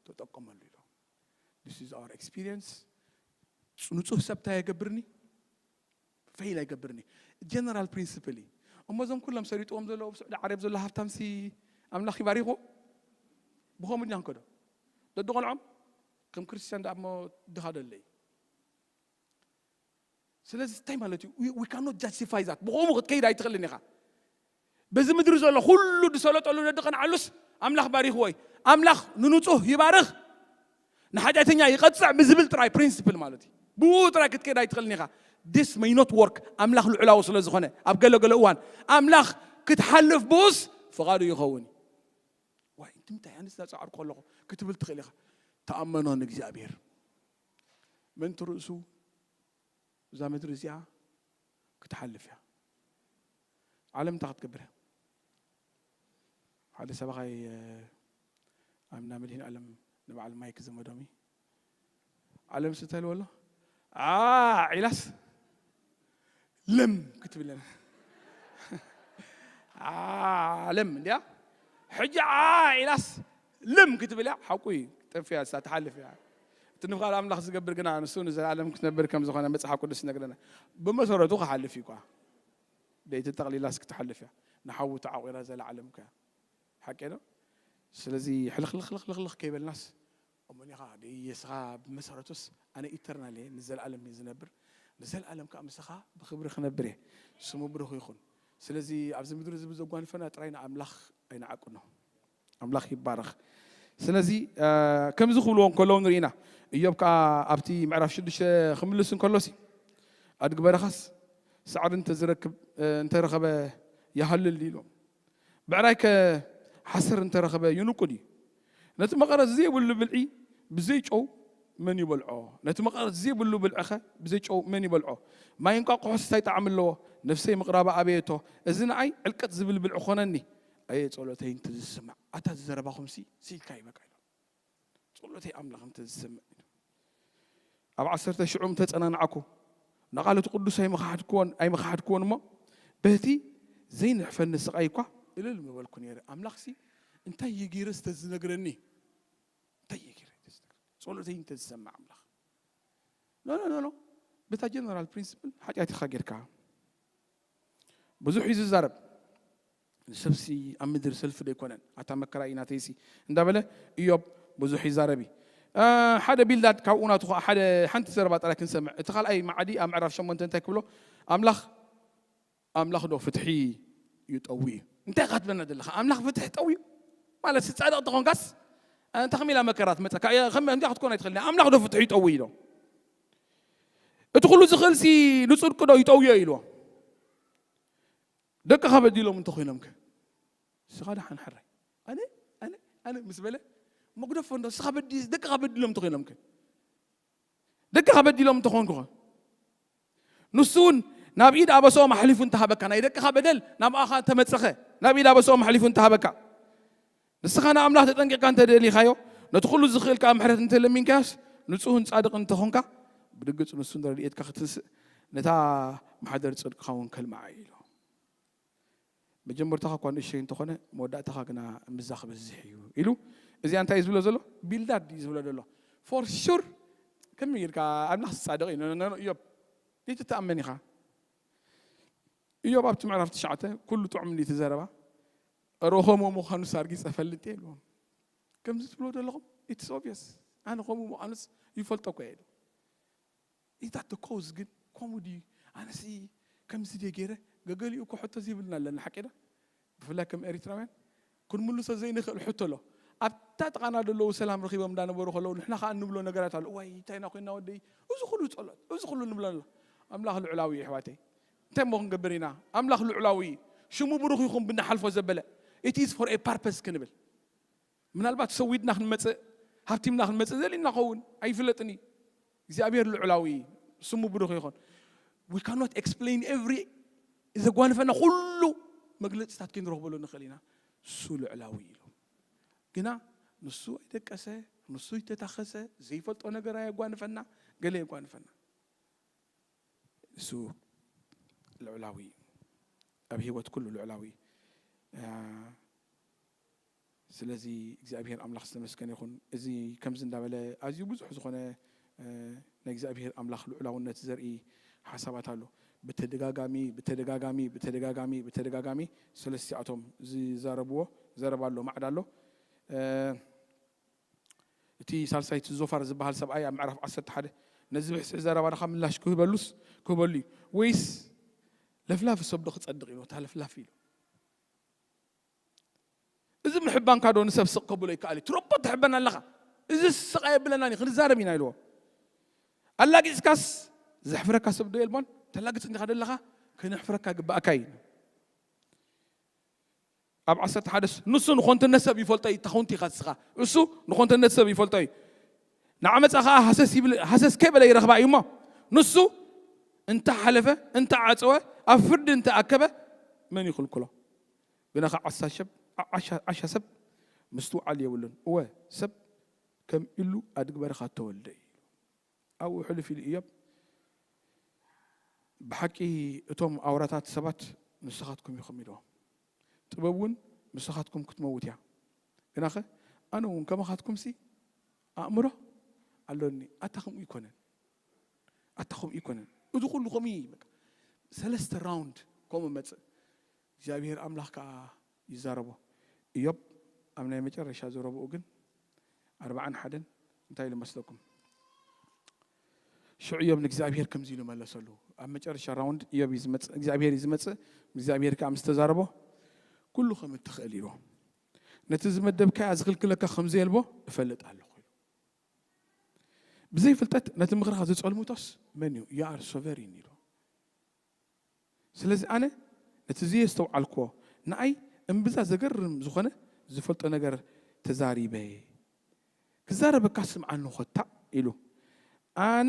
ተጠቀመሉ ኢሎ ስ ር ኤክስፒሪንስ ንፁህ ሰብታ የገብርኒ ፌይል ኣይገብርን እዩ ጀነራል ፕሪንስፕል እዩ እሞ እዞም ኩሎም ሰሪጥዎም ዘሎ ኣብ ስዑዲ ዓረብ ዘሎ ሃብታምሲ ኣምላኽ ይባሪኹ ብኸምኡ ድና ንከዶ ደድቆልዖም ከም ክርስትያን ደኣ እሞ ድኻ ደለይ ስለዚ እንታይ ማለት እዩ ዊ ካኖት ጃስቲፋይ ዛት ብኸምኡ ክትከይድ ኣይትኽእልን ኢኻ በዚ ምድሪ ዘሎ ኩሉ ድሰለጠሉ ደድቀንዓሉስ ኣምላኽ ባሪኽዎ እዩ ኣምላኽ ንንጹህ ይባርኽ ንሓጢኣተኛ ይቐጽዕ ብዝብል ጥራይ ፕሪንስፕል ማለት እዩ ብኡ ጥራይ ክትከይድ ኣይትኽእልን ኢኻ this may not work ኣምላኽ ልዑላዊ ስለ ዝኾነ ኣብ ገለ ገለ እዋን ኣምላኽ ክትሓልፍ ብኡስ ፍቓዱ ይኸውን እዩ ዋይ እንትምታይ ኣነስ ዳጻዓርኩ ኣለኹ ክትብል ትኽእል ኢኻ ተኣመኖ ንእግዚኣብሔር ምእንቲ ርእሱ እዛ ምድሪ እዚኣ ክትሓልፍ እያ ዓለም እንታይ ክትገብር እያ ሓደ ሰባኻይ ኣብ እንዳ መድህን ዓለም ንበዓል ማይ ክዘመዶም እዩ ዓለም ስተህልዎ ኣሎ ዓ ዒላስ ለም ክትብለን ዓለም እንዲያ ሕጂ ዓ ዒላስ ልም ክትብል እያ ሓቁ እዩ ጠፊኣ እሳ ትሓልፍ እያ እቲ ንፍቃድ ኣምላኽ ዝገብር ግና ንሱ ንዘለኣለም ክትነብር ከም ዝኾነ መጽሓፍ ቅዱስ ይነግረና ብመሰረቱ ክሓልፍ እዩ ኳ ደይቲ ጠቕሊላስ ክትሓልፍ እያ ንሓዊ ተዓቑራ ዘለዓለም ከ ሓቂ ዶ ስለዚ ሕልኽልኽልኽልኽ ከይበልናስ እሞኒኻ ደየስኻ ብመሰረቱስ ኣነ ኢተርናል እየ ንዘለኣለም እየ ዝነብር ንዘለኣለም ከዓ ምስኻ ብክብሪ ክነብር እየ ስሙ ብሩኽ ይኹን ስለዚ ኣብዚ ምድሪ እዚ ብዘጓንፈና ጥራይ ንኣምላኽ ኣይንዓቅኖ ኣምላኽ ይባረኽ። ስለዚ ከምዚ ክብልዎ እንከለዉ ንርኢ ኢና። እዮብ ከኣ ኣብቲ ምዕራፍ ሽዱሽተ ክምልስ እንከሎሲ ኣድጊ በረኻስ ሳዕሪ እንተዝረክብ እንተረኸበ ይሃልል ድዩ ኢሎም። ብዕራይከ ሓሰር እንተረኸበ ይንቁ ድዩ? ነቲ መቐረት ዘይብሉ ብልዒ ብዘይ ጨው መን ይበልዖ? ነቲ መቐረት ዘይብሉ ብልዕኸ ብዘይ ጨው መን ይበልዖ? ማይ እንቋቑሖስ እንታይ ጣዕሚ ኣለዎ? ነፍሰይ ምቕራባ ኣበየቶ፣ እዚ ንኣይ ዕልቅጥ ዝብል ብልዒ ዀነኒ። ኣየ ጸሎተይ እንተ ዝስማዕ ኣታ እዚ ዘረባኹም ሲ ስኢልካ እዩ በቃ ኢሎም ጸሎተይ ኣምላኽ እንተ ዝሰምዕ ኢሉ ኣብ ዓሰርተ ሽዑም ተጸናናዕኩ ንቓል እቲ ቅዱስ ኣይመኻሓድክዎን ኣይመኻሓድክዎን እሞ በቲ ዘይንሕፈኒ ስቓይ እኳ እልል ምበልኩ ነይረ ኣምላኽ ሲ እንታይ እዩ ገይረ ስተ ዝነግረኒ እንታይ እዩ ገይረ ጸሎተይ እንተ ዝሰምዕ ኣምላኽ ኖ ኖ ኖ ኖ በታ ጀነራል ፕሪንስፕል ሓጢኣት ኢኻ ጌርካ ብዙሕ እዩ ዝዛረብ ሰብሲ ኣብ ምድሪ ሰልፊ ዶ ኣይኮነን? ኣታ መከራይ ናተይሲ እንዳበለ እዮብ ብዙሕ ይዛረብ እዩ። ሓደ ቢልዳድ ካብኡ ናቱ ከኣ ሓደ ሓንቲ ዘረባ ጥራይ ክንሰምዕ እቲ ካልኣይ መዓዲ ኣብ ምዕራፍ ሸሞንተ እንታይ ክብሎ ኣምላኽ ኣምላኽ ዶ ፍትሒ ይጠዊ እዩ እንታይ ኢኻ ትብለና ዘለኻ ኣምላኽ ፍትሒ ጠውዩ ማለት ጻድቕ እንተኾንካስ እንተ ከመይ ኢላ መከራ ትመጸካ ከምዚኣ ክትኮን ኣይትኽእልን ኣምላኽ ዶ ፍትሒ ይጠዊ ኢሎ እቲ ኩሉ ዝኽእልሲ ንጽድቂ ዶ ይጠውዮ ኢልዎ ደቅኻ በዲሎም እንተኾይኖም ከ ንስኻ ደሓን ሕራይ ኣነ ኣነ ኣነ ምስ በለ መጉደፎ እንዶ ንስኻ በዲ ደቅኻ በዲሎም እንተኾይኖም ከ ደቅኻ በዲሎም እንተኾንኩ ኸ ንሱ እውን ናብ ኢድ ኣበሰኦም ኣሕሊፉ እንተሃበካ ናይ ደቅኻ በደል ናብኣኻ እንተመፀኸ ናብ ኢድ ኣበሰኦም ኣሕሊፉ እንተሃበካ ንስኻ ንኣምላኽ ተጠንቂቕካ እንተ ደሊኻዮ፣ ነቲ ዅሉ ዚኽእል ከኣ ምሕረት እንተ ለሚንካዮስ፣ ንጹህን ጻድቕን እንተ ዀንካ፣ ብርግጽ ንሱ ንረድኤትካ ኺትንስእ፣ ነታ ማሕደር ጽድቅኻውን ከልምዓ እዩ ኢሉ። መጀመርታኻ እኳ ንእሽቶይ እንተ ዀነ፣ መወዳእታኻ ግና እምብዛ ኺበዝሕ እዩ ኢሉ። እዚኣ እንታይ እዩ ዚብሎ ዘሎ? ቢልዳድ እዩ ዚብሎ ዘሎ። ፎር ሹር ከመይ ጌርካ ኣምላኽ ጻድቕ እዩ ኖ ኖ እዮብ ዘይትተኣመን ኢኻ። እዮብ ኣብቲ ምዕራፍ ትሽዓተ ኵሉ ጥዑም እንድዩ እቲ ዘረባ። እረ ከምኡ ምዃኑስ ኣርጊጸ እፈልጥ እየ ኢልዎም። ከምዚ ትብልዎ ዘለኹም ኢትስ ኦብቪየስ ኣነ ከምኡ ምዃኑስ ይፈልጦ እኮ እየ ኢሉ። ኢታት ደ ኮዝ ግን ከምኡ ድዩ ኣነሲ ከምዚ ድየ ገይረ ገገሊኡ እኮ ሕቶ ዘይብልና ኣለና ሓቂ ዶ ብፍላይ ከም ኤሪትራውያን ክንምልሶ ዘይንኽእል ሕቶ ኣሎ። ኣብታ ጥቓና ዘለዉ ሰላም ረኺቦም እንዳነበሩ ከለዉ ንሕና ከዓ እንብሎ ነገራት ኣሎ እዋይ እንታይ ኢና ኮይና ወደይ እዚ ኩሉ ጸሎት እዚ ኩሉ ንብሎ ኣሎ ኣምላኽ ልዑላዊ እዩ ኣሕዋተይ እንታይ እሞ ክንገብር ኢና ኣምላኽ ልዑላዊ ሽሙ ብሩኽ ይኹን ብንሓልፎ ዘበለ it is for a purpose ክንብል ምናልባት ሰዊድና ክንመጽእ ሃብቲምና ክንመጽእ ዘሊና ኸውን ኣይፍለጥን እዩ እግዚኣብሔር ልዑላዊ ስሙ ብሩኽ ይኹን we cannot explain every ዘጓንፈና ኩሉ መግለጽታት ክንረኽበሉ ንኽእል ኢና እሱ ልዑላዊ ኢሉ ግና ንሱ ኣይደቀሰ ንሱ ይተታኸሰ ዘይፈልጦ ነገር ኣየጓንፈና ገለ የጓንፈና እሱ ልዑላዊ እዩ ኣብ ህይወት ኩሉ ልዑላዊ ስለዚ እግዚኣብሄር ኣምላኽ ዝተመስገነ ይኹን እዚ ከምዚ እንዳበለ ኣዝዩ ብዙሕ ዝኾነ ናይ እግዚኣብሄር ኣምላኽ ልዑላውነት ዘርኢ ሓሳባት ኣሎ ብተደጋጋሚ ብተደጋጋሚ ብተደጋጋሚ ብተደጋጋሚ ሰለስቲኣቶም ዝዛረብዎ ዘረባ ኣሎ ማዕዳ ኣሎ እቲ ሳልሳይ እቲ ዞፋር ዝበሃል ሰብኣይ ኣብ ምዕራፍ ዓሰርተ ሓደ ነዚ ብሕስሒ ዘረባኻ ምላሽ ክህበሉስ ክህበሉ እዩ ወይስ ለፍላፊ ሰብዶ ክጸድቕ እዩ ነታ ለፍላፊ ኢሉ እዚ ምሕባንካ ዶ ንሰብ ስቕ ከብሎ ይከኣል እዩ ትረቦ ትሕበን ኣለኻ እዚ ስቕ ኣየብለናን እዩ ክንዛረብ ኢና ኢልዎ ኣላጊፅካስ ዘሕፍረካ ሰብ ዶ የልቦን ተላግፅ እንዲኻ ደለኻ ክነሕፍረካ ግባእካ እዩ ኣብ ዓሰርተ ሓደ ንሱ ንኾንትነት ሰብ ይፈልጦ እዩ ተኹንቲ ኢኻ እስኻ እሱ ንኾንትነት ሰብ ይፈልጦ እዩ ንዓመፃ ኸዓ ሃሰስ ይብል ሃሰስ ከይበለ ይረኽባ እዩ እሞ ንሱ እንተሓለፈ እንተዓፀወ ኣብ ፍርዲ እንተኣከበ መን ይኽልክሎ ብነኻ ዓሳ ሸብ ዓሻ ሰብ ምስትውዓል የብሉን እወ ሰብ ከም ኢሉ ኣድግ በረኻ ተወልደ እዩ ኣብኡ ሕልፍ ኢሉ እዮብ፣ ብሓቂ እቶም ኣውራታት ሰባት ንስኻትኩም ኢኹም ኢልዎ። ጥበብ እውን ምሳኻትኩም ክትመውት እያ፣ ግናኸ ኣነ እውን ከማኻትኩምሲ ኣእምሮ ኣሎኒ፣ ኣታ ከምኡ ኣይኮነን፣ ኣታ ከምኡ ኣይኮነን፣ እዚ ኩሉ ከምኡ እዩ፣ በቃ ሰለስተ ራውንድ ከምኡ መጽእ፣ እግዚኣብሄር ኣምላኽ ከኣ ይዛረቦ። እዮብ ኣብ ናይ መጨረሻ ዘረብኡ ግን ኣርብዓን ሓደን እንታይ ኢሉ መስለኩም? ሽዑ እዮብ ንእግዚኣብሄር ከምዚ ኢሉ መለሰሉ። ኣብ መጨረሻ ራውንድ እዮብ እዩ ዝመጽእ፣ እግዚኣብሄር እዩ ዝመጽእ፣ እግዚኣብሄር ከኣ ምስ ተዛረቦ ኩሉ ከም እትኽእል ኢዎ። ነቲ ዝመደብካያ ዝኽልክለካ ከም ዘየልቦ እፈልጥ ኣለኹ ኢሉ። ብዘይ ፍልጠት ነቲ ምኽርኻ ዝጸልምቶስ መን እዩ? You are sovereign ኢሉ። ስለዚ ኣነ ነቲ ዘየስተውዓልክዎ ንኣይ እምብዛ ዘገርም ዝኾነ ዝፈልጦ ነገር ተዛሪበ። ክዛረበካ ስምዓኒ ኮታ ኢሉ። ኣነ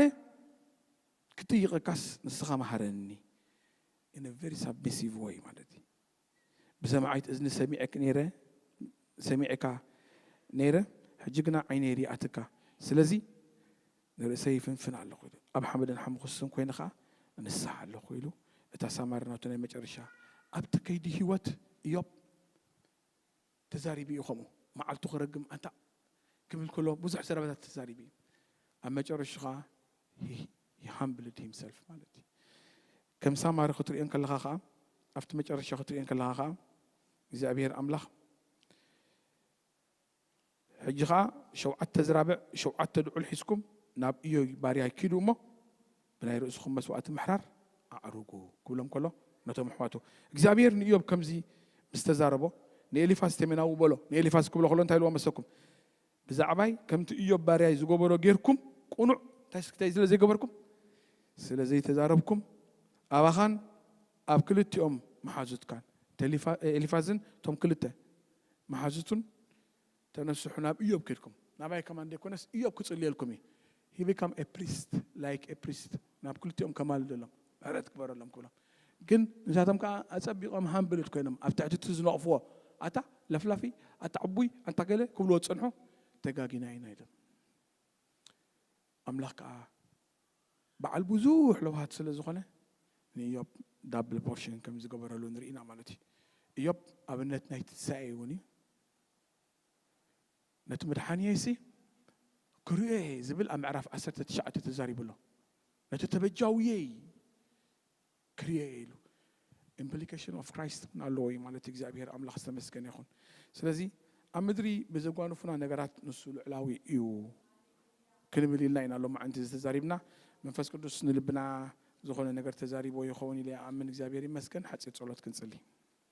ክጥይቐካስ ንስኻ ምሃረኒ in a very submissive way ማለት እዩ። ብሰማዒት እዝኒ ሰሚዔክ ነይረ ሰሚዔካ ነይረ ሕጂ ግና ዓይነይ ሪኣትካ ስለዚ ንርእሰይ ይፍንፍን ኣለኹ ኢሉ ኣብ ሓመድን ሓሙኹስን ኮይነ ከኣ እንሳሕ ኣለኹ ኢሉ እታ ሳማሪ ናቱ ናይ መጨረሻ ኣብቲ ከይዲ ህይወት እዮብ ተዛሪቡ እዩ ከምኡ መዓልቱ ክረግም ኣንታ ክብል ከሎ ብዙሕ ዘረባታት ተዛሪቡ እዩ ኣብ መጨረሹ ከኣ he humbled himself ማለት እዩ ከም ሳማሪ ክትሪኦ እንከለኻ ከኣ ኣብቲ መጨረሻ ክትሪኦ እንከለኻ ከኣ እግዚኣብሔር ኣምላኽ ሕጂ ከኣ ሸውዓተ ዝራብዕ ሸውዓተ ድዑል ሒዝኩም ናብ እዮይ ባርያይ ኪዱ እሞ ብናይ ርእስኹም መስዋእቲ ምሕራር ኣዕርጉ ክብሎም ከሎ ነቶም ኣሕዋቱ እግዚኣብሄር ንእዮብ ከምዚ ምስ ተዛረቦ ንኤሊፋዝ ቴሜናዊ በሎ ንኤሊፋዝ ክብሎ ከሎ እንታይ ኢልዎ መሰኩም ብዛዕባይ ከምቲ እዮብ ባርያይ ዝገበሮ ጌርኩም ቁኑዕ እንታይ ስክታይ ስለ ዘይገበርኩም ስለ ዘይተዛረብኩም ኣባኻን ኣብ ክልቲኦም መሓዙትካን ኤሊፋዝን እቶም ክልተ መሓዙቱን ተነስሑ ናብ እዮብ ኬድኩም ናባይ ከማን ዘይኮነስ እዮብ ክጽልየልኩም እዩ he become a priest like a priest ናብ ክልቲኦም ከማልደሎም ምሕረት ግበረሎም ክብሎም ግን ንሳቶም ከኣ ኣጸቢቆም ሃምብልድ ኮይኖም ኣብ ትሕቲ እቲ ዝነቕፍዎ ኣታ ለፍላፊ ኣታ ዕቡይ ኣንታ ገለ ክብልዎ ዝጸንሑ ተጋጊና ኢና ኢሎም ኣምላኽ ከኣ በዓል ብዙሕ ለውሃት ስለ ዝኾነ ንእዮብ ዳብል ፖርሽን ከም ዝገበረሉ ንርኢና ማለት እዩ እዮብ ኣብነት ናይ ትንሳኤ እውን እዩ ነቲ መድሓንየይሲ ክርእዮ'የ ዝብል ኣብ ምዕራፍ ዓሰርተ ትሽዓተ ተዛሪቡ ኣሎ። ነቲ ተበጃውየይ ክርእዮ'የ ኢሉ። Implication of Christ እውን ኣለዎ እዩ ማለት እዩ። እግዚኣብሄር ኣምላኽ ዝተመስገነ ይኹን። ስለዚ ኣብ ምድሪ ብዘጓንፉና ነገራት ንሱ ልዑላዊ እዩ ክንብል ኢልና ኢና ሎማዕንቲ እዚ ተዛሪብና። መንፈስ ቅዱስ ንልብና ዝኾነ ነገር ተዛሪብዎ ይኸውን ኢለ ይኣምን። እግዚኣብሄር ይመስገን። ሓጺር ጸሎት ክንጽሊ።